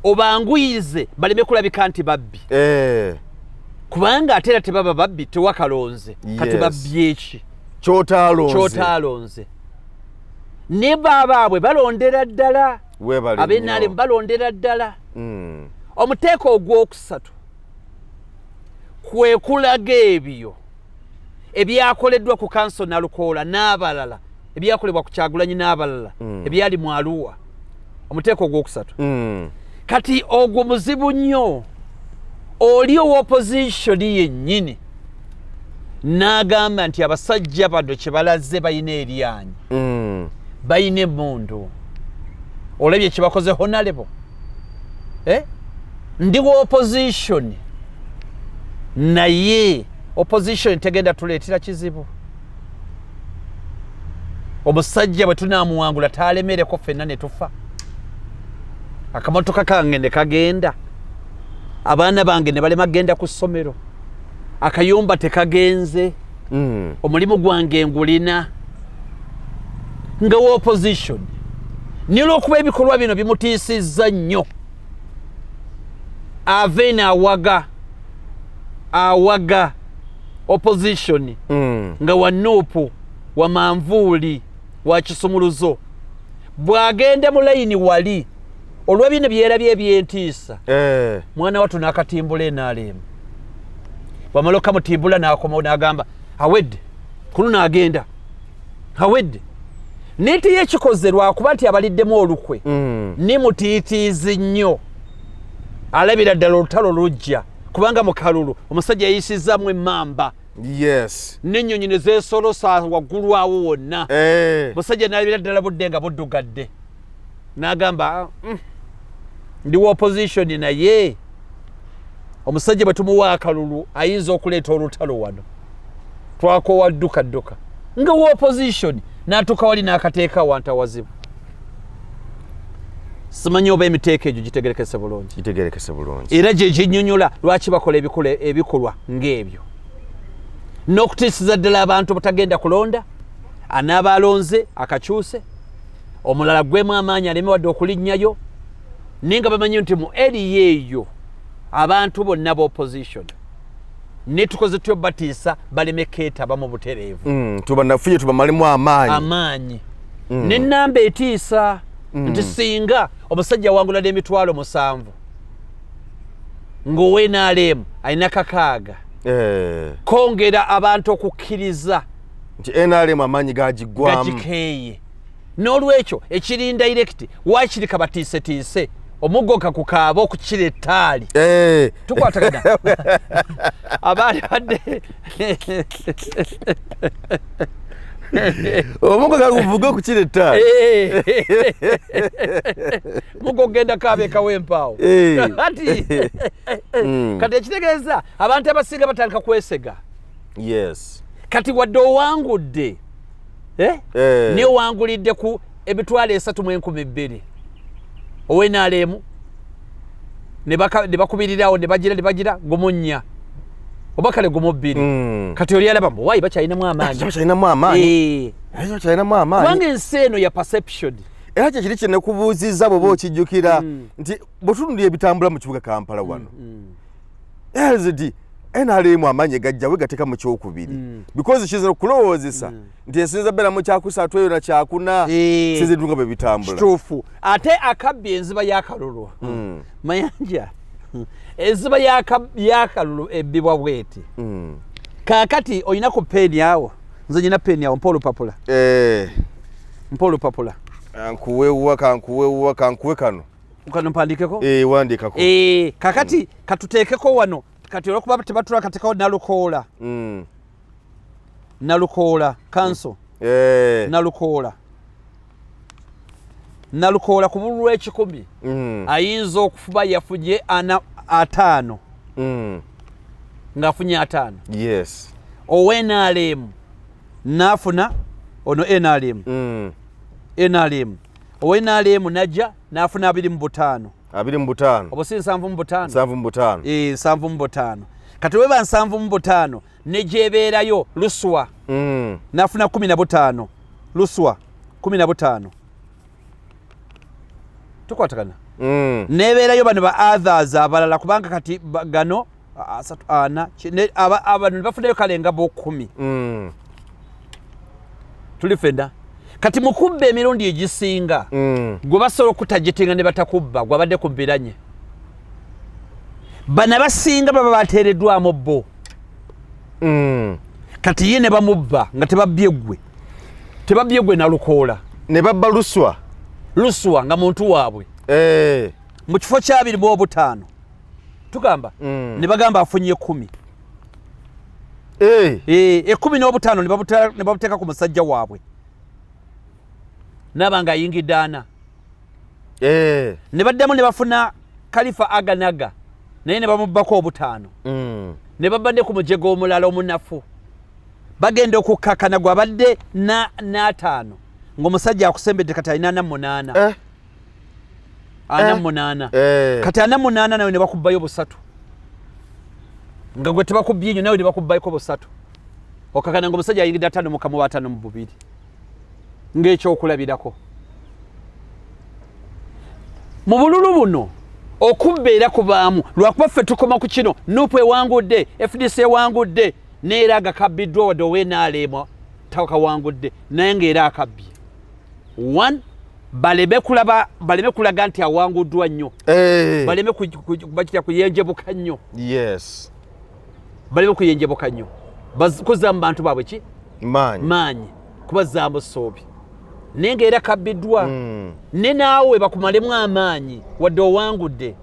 obanguyize baleme kulabika nti babbi eh. kubanga ate era tebaba babbi tewakalonze kati babbyeki kyotaalonze ne baabaabwe balondera ddala abenalemu balondera ddala hmm. omuteeko ogwokusatu kwekulaga ebyo ebyakoleddwa ku kanso nalukoola n'abalala ebyakolebwa ku kyagulanyi n'abalala hmm. ebyali mu aluwa omuteeko ogwokusatu hmm. kati ogwo muzibu nnyo oli owopositioni yennyini n'agamba nti abasajja bano kye balaze balina eryanyi mm. balina emundu olabye kye bakoze honalebo eh? ndi wa opposition naye opposition tegenda tuleetera kizibu omusajja bwe tunaamuwangula taalemereko fenna ne tufa akamotoka kange ne kagenda abaana bange ne balema genda ku ssomero akayumba tekagenze mm. omulimu gwange ngulina nga wa opposition naye olwokuba ebikolwa bino bimutiisizza nnyo ave naawaga awaga opposition mm. nga wa nuupu wa manvuuli wa kisumuluzo bw'agenda mu layini wali olwa bino byerabye ebyentiisa eh. mwana watu nakatimbula enalemu wamala okamutimbula nakomawo nagamba awedde kuno nagenda awedde nti yekikoze lwakuba nti abaliddemu olukwe mm. ni mutiitiizi nnyo alabira ddala olutalo lujja kubanga mukalulu omusajja yayisizamu emamba yes nenyonyi nezesolosa waggulu awo wonna eh. musajja nalabira ddala budde nga buddugadde nagamba mm, ndi wa opposition naye omusajja bwe tumuwa akalulu ayinza okuleeta olutalo wano twakowa dduka dduka nga wa opposition natuuka wali n'akateeka wanta wazibu simanyi oba emiteeko egyo gitegerekese bulungi gitegerekese bulungi era gye ginyonyola lwaki bakola ebikula ebikolwa ng'ebyo n'okutiisiza ddala abantu obutagenda kulonda anaaba alonze akakyuse omulala gwemu amaanyi aleme wadde okulinnyayo naye nga bamanyi nti mu eriya eyo abantu bonna ba opposition netukoze tyo batiisa baleme keetaba mu butereevu mm, tubanafuye tubamalemu amaanyi amaanyi mm. nenamba etiisa mm. nti singa omusajja wangulada emitwalo musanvu ngaowenaleemu alina kakaaga eh. kongera abantu okukkiriza nti nrm amaanyi gagiggwamu gagikeeye n'olwekyo ekiri indirekiti waakiri kabatiisetiise omuggo kakukaaba okukira ettaali eh. tukwatagana abaali badde omuggo kaguvuga okukira ettaali eh. muggo okugenda kaaba ekawa empaawo eh. kati mm. kati ekitegeeza abantu abasinga batandika kwesega yes kati wadde owangudde eh? eh. newangulidde ku emitwalo esatu mu enkumi bbiri owenaleemu ne bakubirirawo ne bagira ne bagira gumunnya oba kale gumu bbiri mm. kati oli alaba mbu wayi bakyalinamu amaanyibakyalinamu amaanyi bakyalinamu amaanyi kubanga ensi eno ya perception era kyekiri kyenekubuuzizza bweoba mm. okijjukira mm. nti bwetunulira ebitambula mu kibuga kampala wano mm. mm. lsd nrm amaanyi gajjawe gateka mu kyokubiri mm. because kizina okulowoozesa mm. nti ensinza beera mu kyakusatu eyo na kyakuna eh. sinza ebitunga bwe bitambula kituufu ate akabbi enziba yakalulu mm. mayanja enziba yakalulu ebbibwa bweti kakati olina ku peeni awo nze nyina peeni awo mpa olupapula eh. mpa olupapula kankuwewuwa kankuwewuwa kankuwe kano kano mpandikeko eh, wandikako eh, kakati mm. katuteekeko wano kati olwokuba tebatula katekawo nalukoola mm. nalukoola kanso mm. eh. nalukoola nalukoola ku bululu ekikumi mm. ayinza okufuba yafuje ana ataano mm. ngaafunye ataano yes ownrm naafuna ono nrm mm. nrm owe nrm najja nafuna abiri mu butaano abiri mu butaano obo si nsanvu mu butaano nsanvu mu butaano ee eh, nsanvu mu butaano kati weba nsanvu mu butaano negyebeerayo luswa mm. nafuna kumi na butaano luswa kumi na butaano tukwatagana mm. nebeerayo bano ba others abalala kubanga kati gano asatu ana abantu nebafunayo kale nga bokumi mm. tuli fenda kati mukubba emirundi egisinga mm. gwe basobola okutajetenga ne batakubba gwe abadde ku biranye bana basinga baba bateereddwamu bo mm. kati ye ne bamubba nga tebabbye gwe tebabbye gwe nalukoola ne babba luswa luswa nga muntu waabwe eh. mu kifo kyabiri mu obutaano tugamba mm. ne bagamba afunye ekumi eh. eh, ekumi n'obutaano ne babuteeka ku musajja waabwe naaba nga ayingidde ana eh. ne baddamu ne bafuna kalifa aganaga naye ne bamubbako obutaano mm. ne babadde ku mujega omulala omunafu bagenda okukkakana gwabadde n'ataano ng'omusajja akusembedde kati alina ana munaana ana eh. munaana eh. kati ana munaana nawe ne bakubbayo busatu nga gwe tebakubbye nyo nawe ne bakubbayoko busatu okakana nga omusajja ayingidde atano mukamu waatano mu bubiri ng'ekyokulabirako mu bululu buno okubba era kubaamu lwakuba ffe tukoma ku kino nupu ewangudde fdc ewangudde neera agakabbiddwa wadde owenaalema takawangudde naye ngaera akabbye one baleme kulaba baleme kulaga nti awanguddwa nnyo eh. baleme bakitya kuyenjebuka nnyo yes baleme kuyenjebuka nnyo kuzza mu bantu baabwe ki maanyi maanyi kubazzaamu soobi naye nga era kabbiddwa mm. ne naawe bakumalemu amaanyi wadde owangudde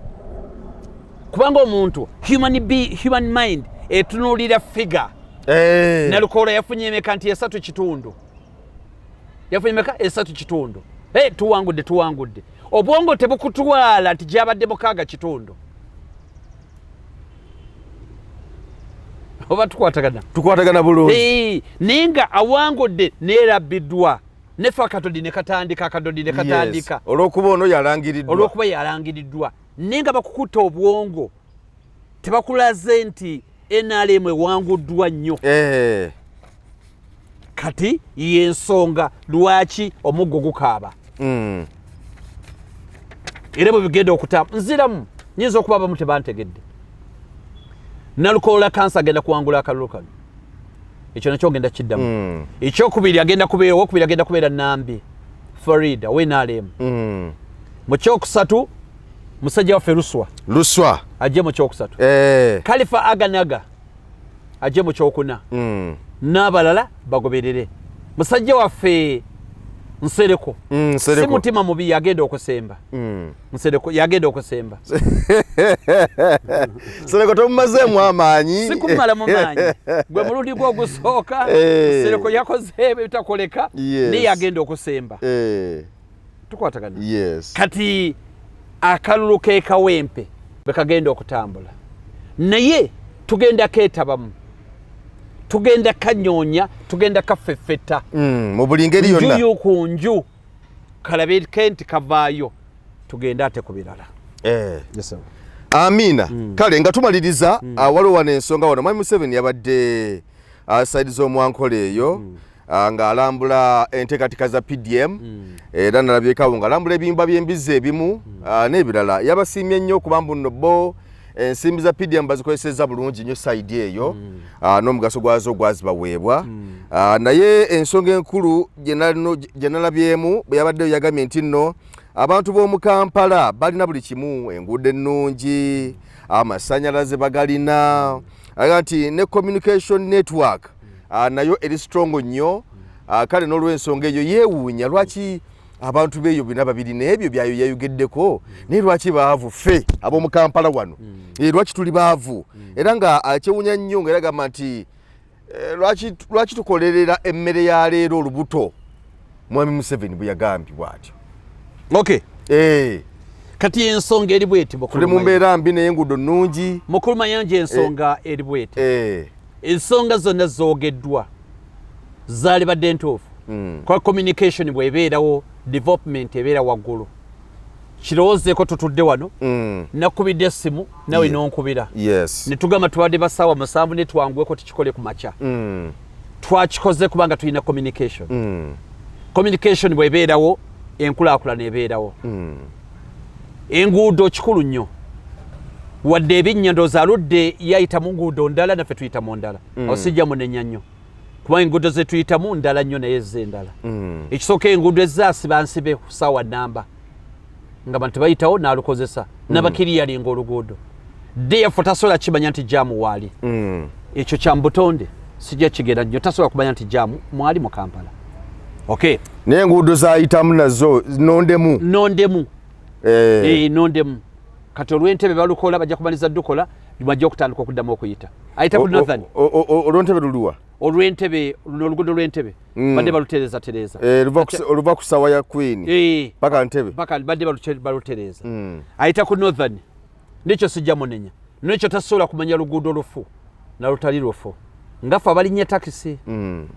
kubanga omuntu human, be, human mind etunuulira figure hey. Eh. nalukoola yafunye emeka nti esatu kitundu yafunye meka esatu kitundu hey, tuwangudde tuwangudde obwongo tebukutwala nti gyabadde mukaaga kitundu oba tukwatagana tukwatagana bulungi hey, naye nga awangudde neerabbiddwa nefe akadodi nekatandika akadodi nekatandika yes. olwokuba ono yalangiriddwa olwokuba yalangiriddwa naye nga bakukuta obwongo tebakulaze nti nrm ewanguddwa nnyo eh. kati yensonga lwaki omuggo gukaaba mm. era bwebigenda okutamba nziramu nyinza okuba abamu tebantegedde nalukoola kansa agenda kuwangula akalulu kano ekyo nakyo ogenda kiddamu mm. ekyokubiri agenda kubeera owokubiri agenda kubeera nambi farida wenalemu mm. mukyokusatu musajja waffe luswa luswa ajje mu kyokusatu eh. kalifa aganaga ajje mu kyokuna mm. n'abalala bagoberere musajja waffe nsereko mm, si mutima mubi yagenda okusemba mm. nsereko yagenda okusemba nsereko tomumazeemu amaanyi sikumala mu maanyi gwe mulundi gwe ogusooka eh. nsereko yakoze ebitakoleka naye yagenda okusemba eh. tukwatagana yes. kati akalulu kekawempe bekagenda okutambula naye tugenda ketabamu tugenda kanyonya tugenda kafefeta mm, mu buli ngeri yonna njuyu ku nju kalabe kenti kavaayo tugende ate ku birala eh. yes, amiina mm. kale nga tumaliriza mm. uh, waliwo wano ensonga wano mwami museveni yabadde uh, saidi z'omwankola eyo mm. Ah, ng'alambula enteekateeka za pdm hmm. era nalabyekawo ng'alambula ebiyumba by'embizzi ebimu hmm. ah, n'ebirala yabasiimye nnyo okuba mbu nno bo ensimbi za pdm bazikozeseza bulungi nnyo saidi eyo hmm. ah, n'omugaso gwazo gwazibaweebwa naye ensonga enkulu gye nalabyemu bwe yabaddeyo yagambye nti nno abantu b'omu kampala balina buli kimu enguudo ennungi amasannyalaze bagalina aga nti ne communication network ah, nayo eri strongo nnyo ah, kale n'olwensonga eyo yeewuunya lwaki abantu beeyo bina babiri n'ebyo byayo yayogeddeko naye lwaki baavu ffe ab'omu kampala wano hmm. eh, lwaki tuli baavu hmm. era nga akyewunya nnyo nga era gamba nti eh, lwaki tukolerera emmere ya leero olubuto mwami museveni bweyagambye bwatyo okay. hey. Eh. kati ensonga eri bweti tuli mu mbeera mbi naye enguudo nnungi mukulu mayanja ensonga eh. eri bweti hey. Eh. ensonga zonna zogeddwa zalibadde ntuufu mm. kwa communication bwebeerawo development ebeera waggulu kirowoozeeko tutudde wano mm. nakubidde essimu nawe yeah. nonkubira yes. netugamba tubadde basaawa musanvu netwangweko tukikole ku makya mm. twakikoze kubanga tulina communication mm. communication bwebeerawo enkulaakulana ebeerawo mm. enguudo kikulu nnyo wadde ebinnya ndooza aludde yayita mu nguudo ndala naffe tuyita mu ndala mm. awo sijja munenya nnyo kuba enguudo zetuyitamu ndala nnyo naye eze endala mm. ekisooka enguudo ezaasibansibe ku saawa namba nga bantu bayitawo nalukozesa mm. nabakiri yalinga oluguudo defu tasobola kimanya nti jamu waali mm. ekyo kyambutonde sijja kigera nyo tasobola kumanya nti jamu mwali mu kampala okay naye enguudo zayitamu nazo nondemu nondemu eh. Eh, nondemu kati olwentebe balukola bajja kumaliza dukola bajja okutandika okuddamu okuyita ayita ku northern olwentebe luluwa olwentebe luno olugudo lwentebe mm. badde balutereza tereza eh, oluva ku sawa ya queen eh. paka ntebe paka badde balutereza mm. ayita ku northern nekyo sijja munenya nekyo tasobola kumanya luguudo lufu nalutali lufu ngafe abalinya takisi mm.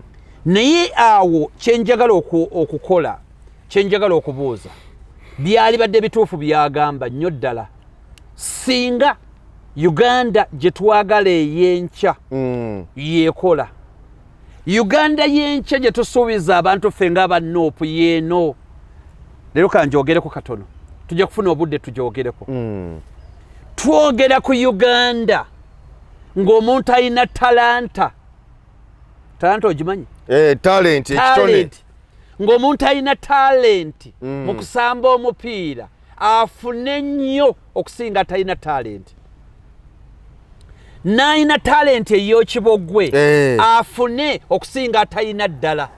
naye awo kyenjagala okukola kyenjagala okubuuza byali badde bituufu byagamba nnyo ddala singa uganda gyetwagala eyenkya mm. yekola uganda yenkya gye tusuubiza abantu ffe nga aba nup yeeno leero kanjogereko katono tujja kufuna obudde tujogereko mm. twogera ku uganda ng'omuntu alina talanta talanta ogimanyi eh, talenti ng'omuntu alina talenti mm. mu kusamba omupiira afune nnyo okusinga talina talenti nalina talenti eyokibogwe eh. afune okusinga atalina ddala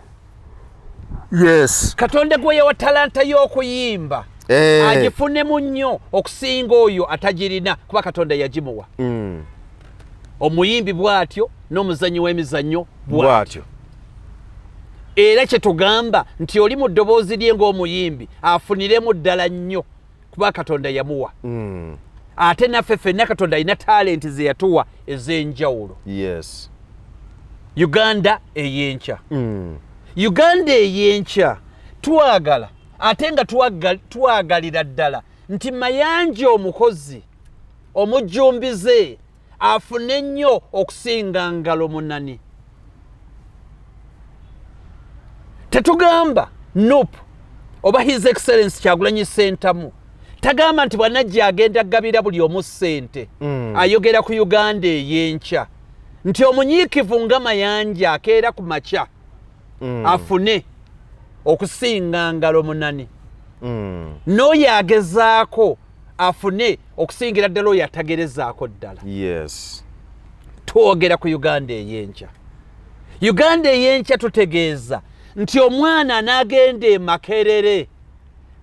yes katonda gweyewa talanta y'okuyimba eh. agifunemu nnyo okusinga oyo atagirina kuba katonda yagimuwa mm. omuyimbi bw'atyo n'omuzannyi w'emizannyo bw'atyo era kyetugamba nti oli mu ddoboozi lye ng'omuyimbi afuniremu ddala nnyo kuba katonda yamuwa mm. ate naffe fenna katonda alina talenti ze yatuwa ez'enjawulo yes. uganda ey'enkya mm. uganda ey'enkya twagala ate nga twagalira ddala nti mayanja omukozi omujjumbize afune nnyo okusinga ngalo munani tetugamba nup oba his excellence kyagulanyi sentamu tagamba nti bwanajja agenda gabira buli omu ssente mm. ayogera ku uganda eyenkya nti omunyiikivu nga mayanja akeera ku makya mm. afune okusinga ngalo munane mm. n'oyo agezaako afune okusingira ddala oyo atagerezaako ddala yes. twogera ku uganda ey'enkya uganda ey'enkya tutegeeza nti omwana anaagenda emakerere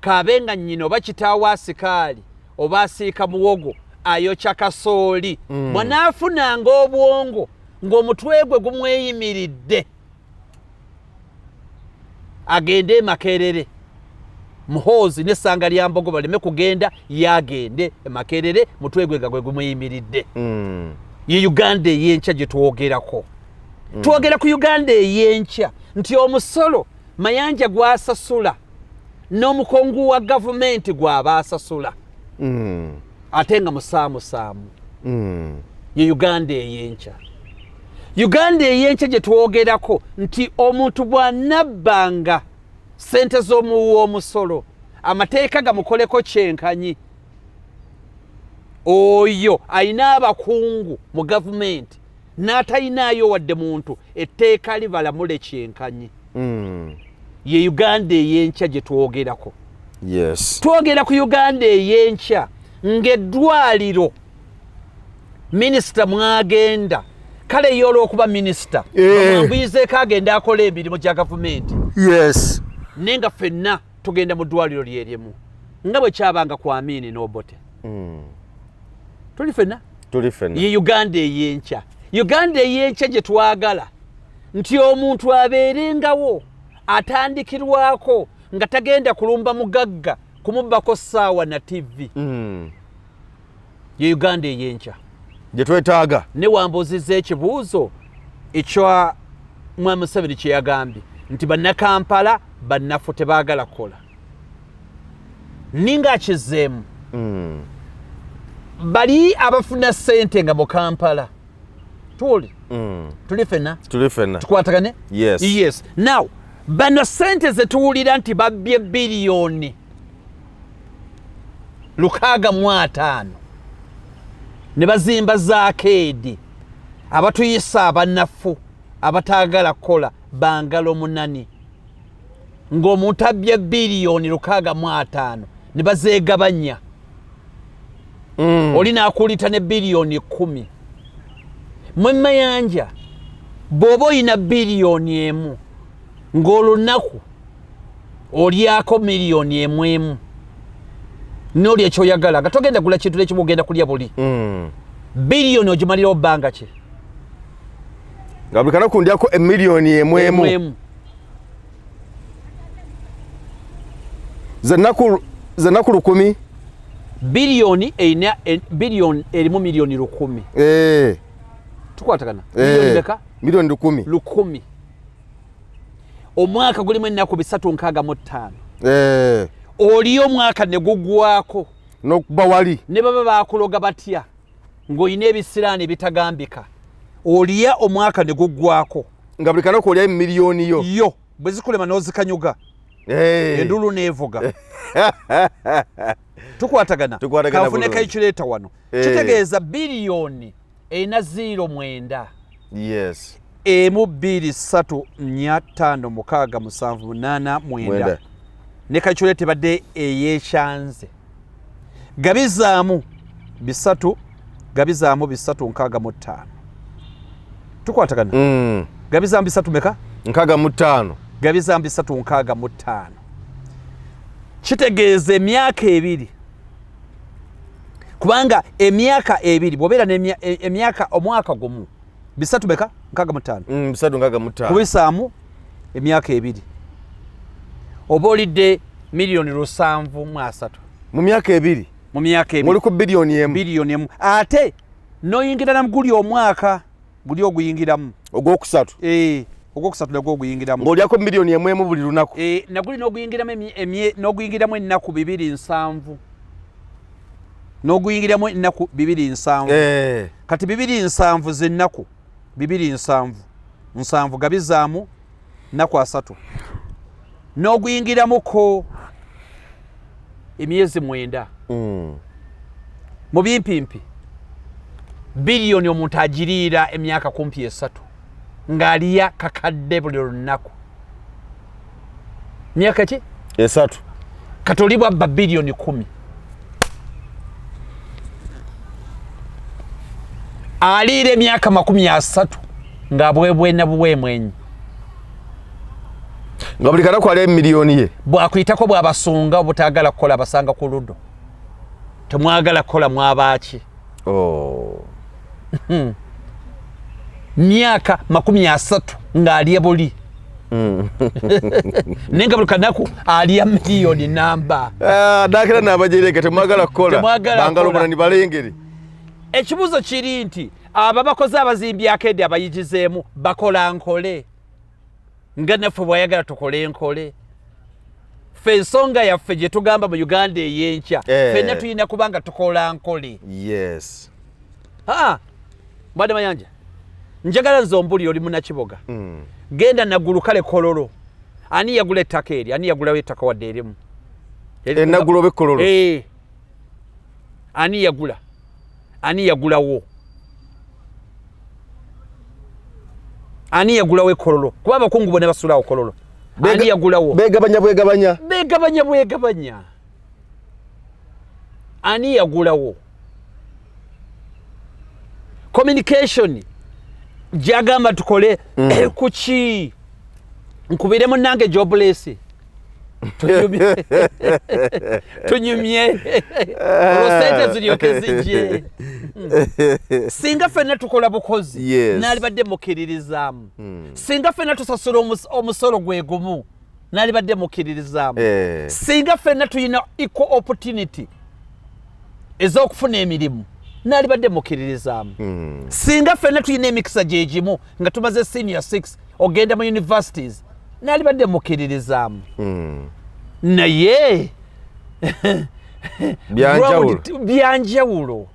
kaabe nga nnyina oba kitaawo asikaali oba asiika muwogo ayokya kasooli mm. bwanaafunanga obwongo ng'omutwe gwe gumweyimiridde agende emakerere muhoozi nesanga lya mbogo baleme kugenda yagende emakerere mutwe gwe nga gwe gumuyimiridde mm. ye uganda eyenkya gyetwogerako mm. twogera ku uganda eyenkya nti omusolo mayanja gwasasula n'omukungu wa gavumenti gwaba asasula mm. ate nga musaamusaamu mm. ye uganda eyenkya uganda eyenkya gye twogerako nti omuntu bw'anabbanga ssente z'omuwi w'omusolo amateeka gamukoleko kyenkanyi oyo alina abakungu mu gavumenti n'atalinaayo wadde muntu etteeka libalamule kyenkanyi hmm. ye uganda eyenkya gye twogerako twogera ku uganda eyenkya ng'eddwaliro minisita mwagenda kale ye olwokuba minisita ambuyizeeko eh. agenda akola emirimu gya gavumenti yes naye nga fenna tugenda mu ddwaliro lyerimu nga bwe kyabanga ku amiini n'obote hmm. tuli fenna tuli fenna ye uganda ey'enkya uganda ey'enkya gye twagala nti omuntu abeerengawo atandikirwako nga tagenda kulumba mugagga kumubbako ssaawa na tivi mm. ye uganda eyenkya gyetwetaaga ne wambuuzizza ekibuuzo ekya mwami museveni kyeyagambye nti bannakampala bannafu tebaagala kukola ninga akizeemu mm. bali abafuna sente nga mu kampala tuli mm. tuli fena tuli fena tukwatagane yes. yes now bano sente zetuwulira nti babbye biliyoni lukaaga mu ataano ne bazimba zaakeedi abatuyisa abanafu abataagala kukola bangalo munani ng'omuntu abbye biliyoni lukaaga mu ataano ne bazeegabanya mm. oli naakuulita ne biliyoni kumi mwe mayanja bw'oba olina biliyoni emu ng'olunaku olyako miliyoni emu emu nolya ekyoyagala nga togenda gula kintu nekimu ogenda kulya buli mm. biliyoni ogimalirawo bbanga ki nga buli kanaku ndyako emiliyoni emu emu zenaku lukumi biliyoni erina e, biliyoni erimu miliyoni lukumi eh. tukwatagana eh. miliyoni lukumi lukumi omwaka gulimu ennaku bisatu nkaaga mu ttaano eh. oli omwaka ne gugwako nokuba wali ne baba bakuloga batya ng'olina ebisiraani ebitagambika olya omwaka ne gugwako nga buli kanaku olyayo mu miliyoni yo yo bwe zikulema n'ozikanyuga eh. endulu neevuga tukwatagana kafuneka ekireeta wano eh. kitegeeza biliyoni erina ziiro mwenda yes emu bbiri ssatu nnya ttaano mukaaga musanvu munaana mwenda ne kakyole tebadde eyekyanze gabizaamu bisatu gabizaamu bisatu nkaaga mu ttaano tukwatagana mm. gabizaamu bisatu meka nkaaga mu ttaano gabizaamu bisatu nkaaga mu ttaano kitegeeza emyaka ebiri kubanga emyaka ebiri bwobeera nemyaka e, omwaka gumu bisatu beka nkaga mutaano mm, bisatu nkaga mutaano kubisaamu emyaka ebiri oba olidde miliyoni lusanvu mu asatu mu myaka ebiri mu myaka ebiri oli ku biliyoni emu biliyoni emu ate noyingira namuguli omwaka guli oguyingiramu ogwokusatu eh, ogwokusatu nagwo oguyingiramu ng'olyako miliyoni emwemu buli lunaku eh, naguli n'oguyingiramu n'oguyingiramu ennaku bibiri nsanvu n'oguyingiramu ennaku bibiri nsanvu eh. kati bibiri nsanvu zennaku bibiri nsanvu nsanvu gabizaamu nnaku asatu n'oguyingiramuko emyezi mwenda mm. mu bimpimpi biliyoni omuntu agiriira emyaka kumpi esatu ng'aliya kakadde buli lunaku myaka ki esatu katolibwa babiliyoni kumi aliira emyaka makumi asatu nga bwebwena buwemwenyi nga buli kanaku ali emiliyoni ye bwakuyitako bwabasunga obutagala kukola basanga ku ludo temwagala kukola mwabaaki oh. hmm. myaka makumi asatu ng'alya buli hmm. naye nga buli kanaku alya miliyoni namba ah, nakera nabajereka temwagala kukolabangalomana nibalengere ekibuuzo kiri nti abo abakozi abazimbi akeedi abayigizeemu bakola nkole nga naffe bwayagala tukole enkole ffe ensonga yaffe gye tugamba mu uganda ey'enkya eh. fenna tulina kuba nga tukola nkole yes aa mbadde mayanja njagala nze ombulire oli munakiboga mm. genda nagulu kale kololo ani yagula ettaka eri ani yagulawo ettaka wadde erimu enagulobe eh, kololo eh. ani yagula ani yagulawo ani yagulawo ekololo kuba abakungu bona basulawo kololo ani yagulawo begabanya bwegabanya begabanya bwegabanya ani yagulawo communication gyagamba tukole mm. kuki nkubire munange joblesi tunyumye olwosente ziryoke zijje singa fenna tukola bukozi nalibadde mukiririzaamu hmm. singa fenna tusasula omusolo gwe gumu nalibadde mukiririzaamu eh. singa fenna tulina equal opportunity ez'okufuna emirimu nalibadde mukiririzaamu hmm. singa fenna tulina emikisa gyegimu nga tumaze senior 6 ogenda mu universities nali badde mukiririzaamu hmm. naye byanjawulo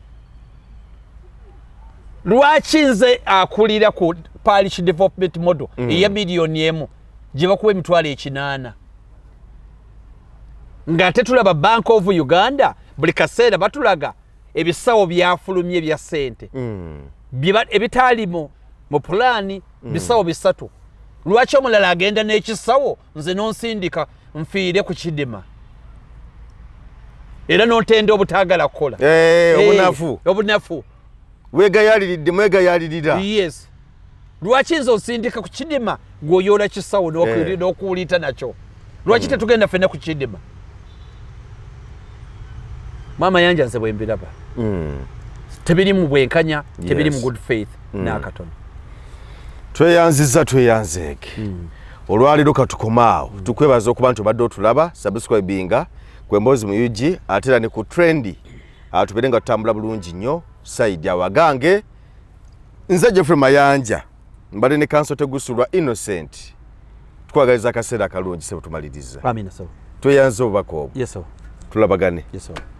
lwaki nze akulira ku parish development model mm. eya miliyoni emu gye bakuba emitwalo ekinaana ng'ate tulaba bank of uganda buli kaseera batulaga ebisawo byafulumye bya ssente mm. ebitaalimu mu pulaani mm. bisawo bisatu lwaki omulala agenda n'ekisawo nze nonsindika nfiire ku kidima era nontenda obutaagala kukola eh, eh, obunafu obunafu wegayaliridde mwegayalirira yes lwaki nze osindika ku kidima gwe oyoola kisawo eh. n'okuwuliita nakyo lwaki hmm. tetugenda fenna ku kidima maama yanja nze bwembiraba hmm. tebiri mu bwenkanya tebiri mu good faith hmm. n'akatono tweyanziza tweyanzeege olwaleero katukomaawo tukwebaza okuba nti obadde otulaba subscribinga kwemboozi mu ug ate era ne ku trendi atubeere nga tutambula bulungi nnyo saidi awagange nze jeffrey mayanja mbadde ne kanso tegusulwa innocent twagaliza akaseera akalungi sebo tumaliriza tweyanze obubaka obwo tulabagane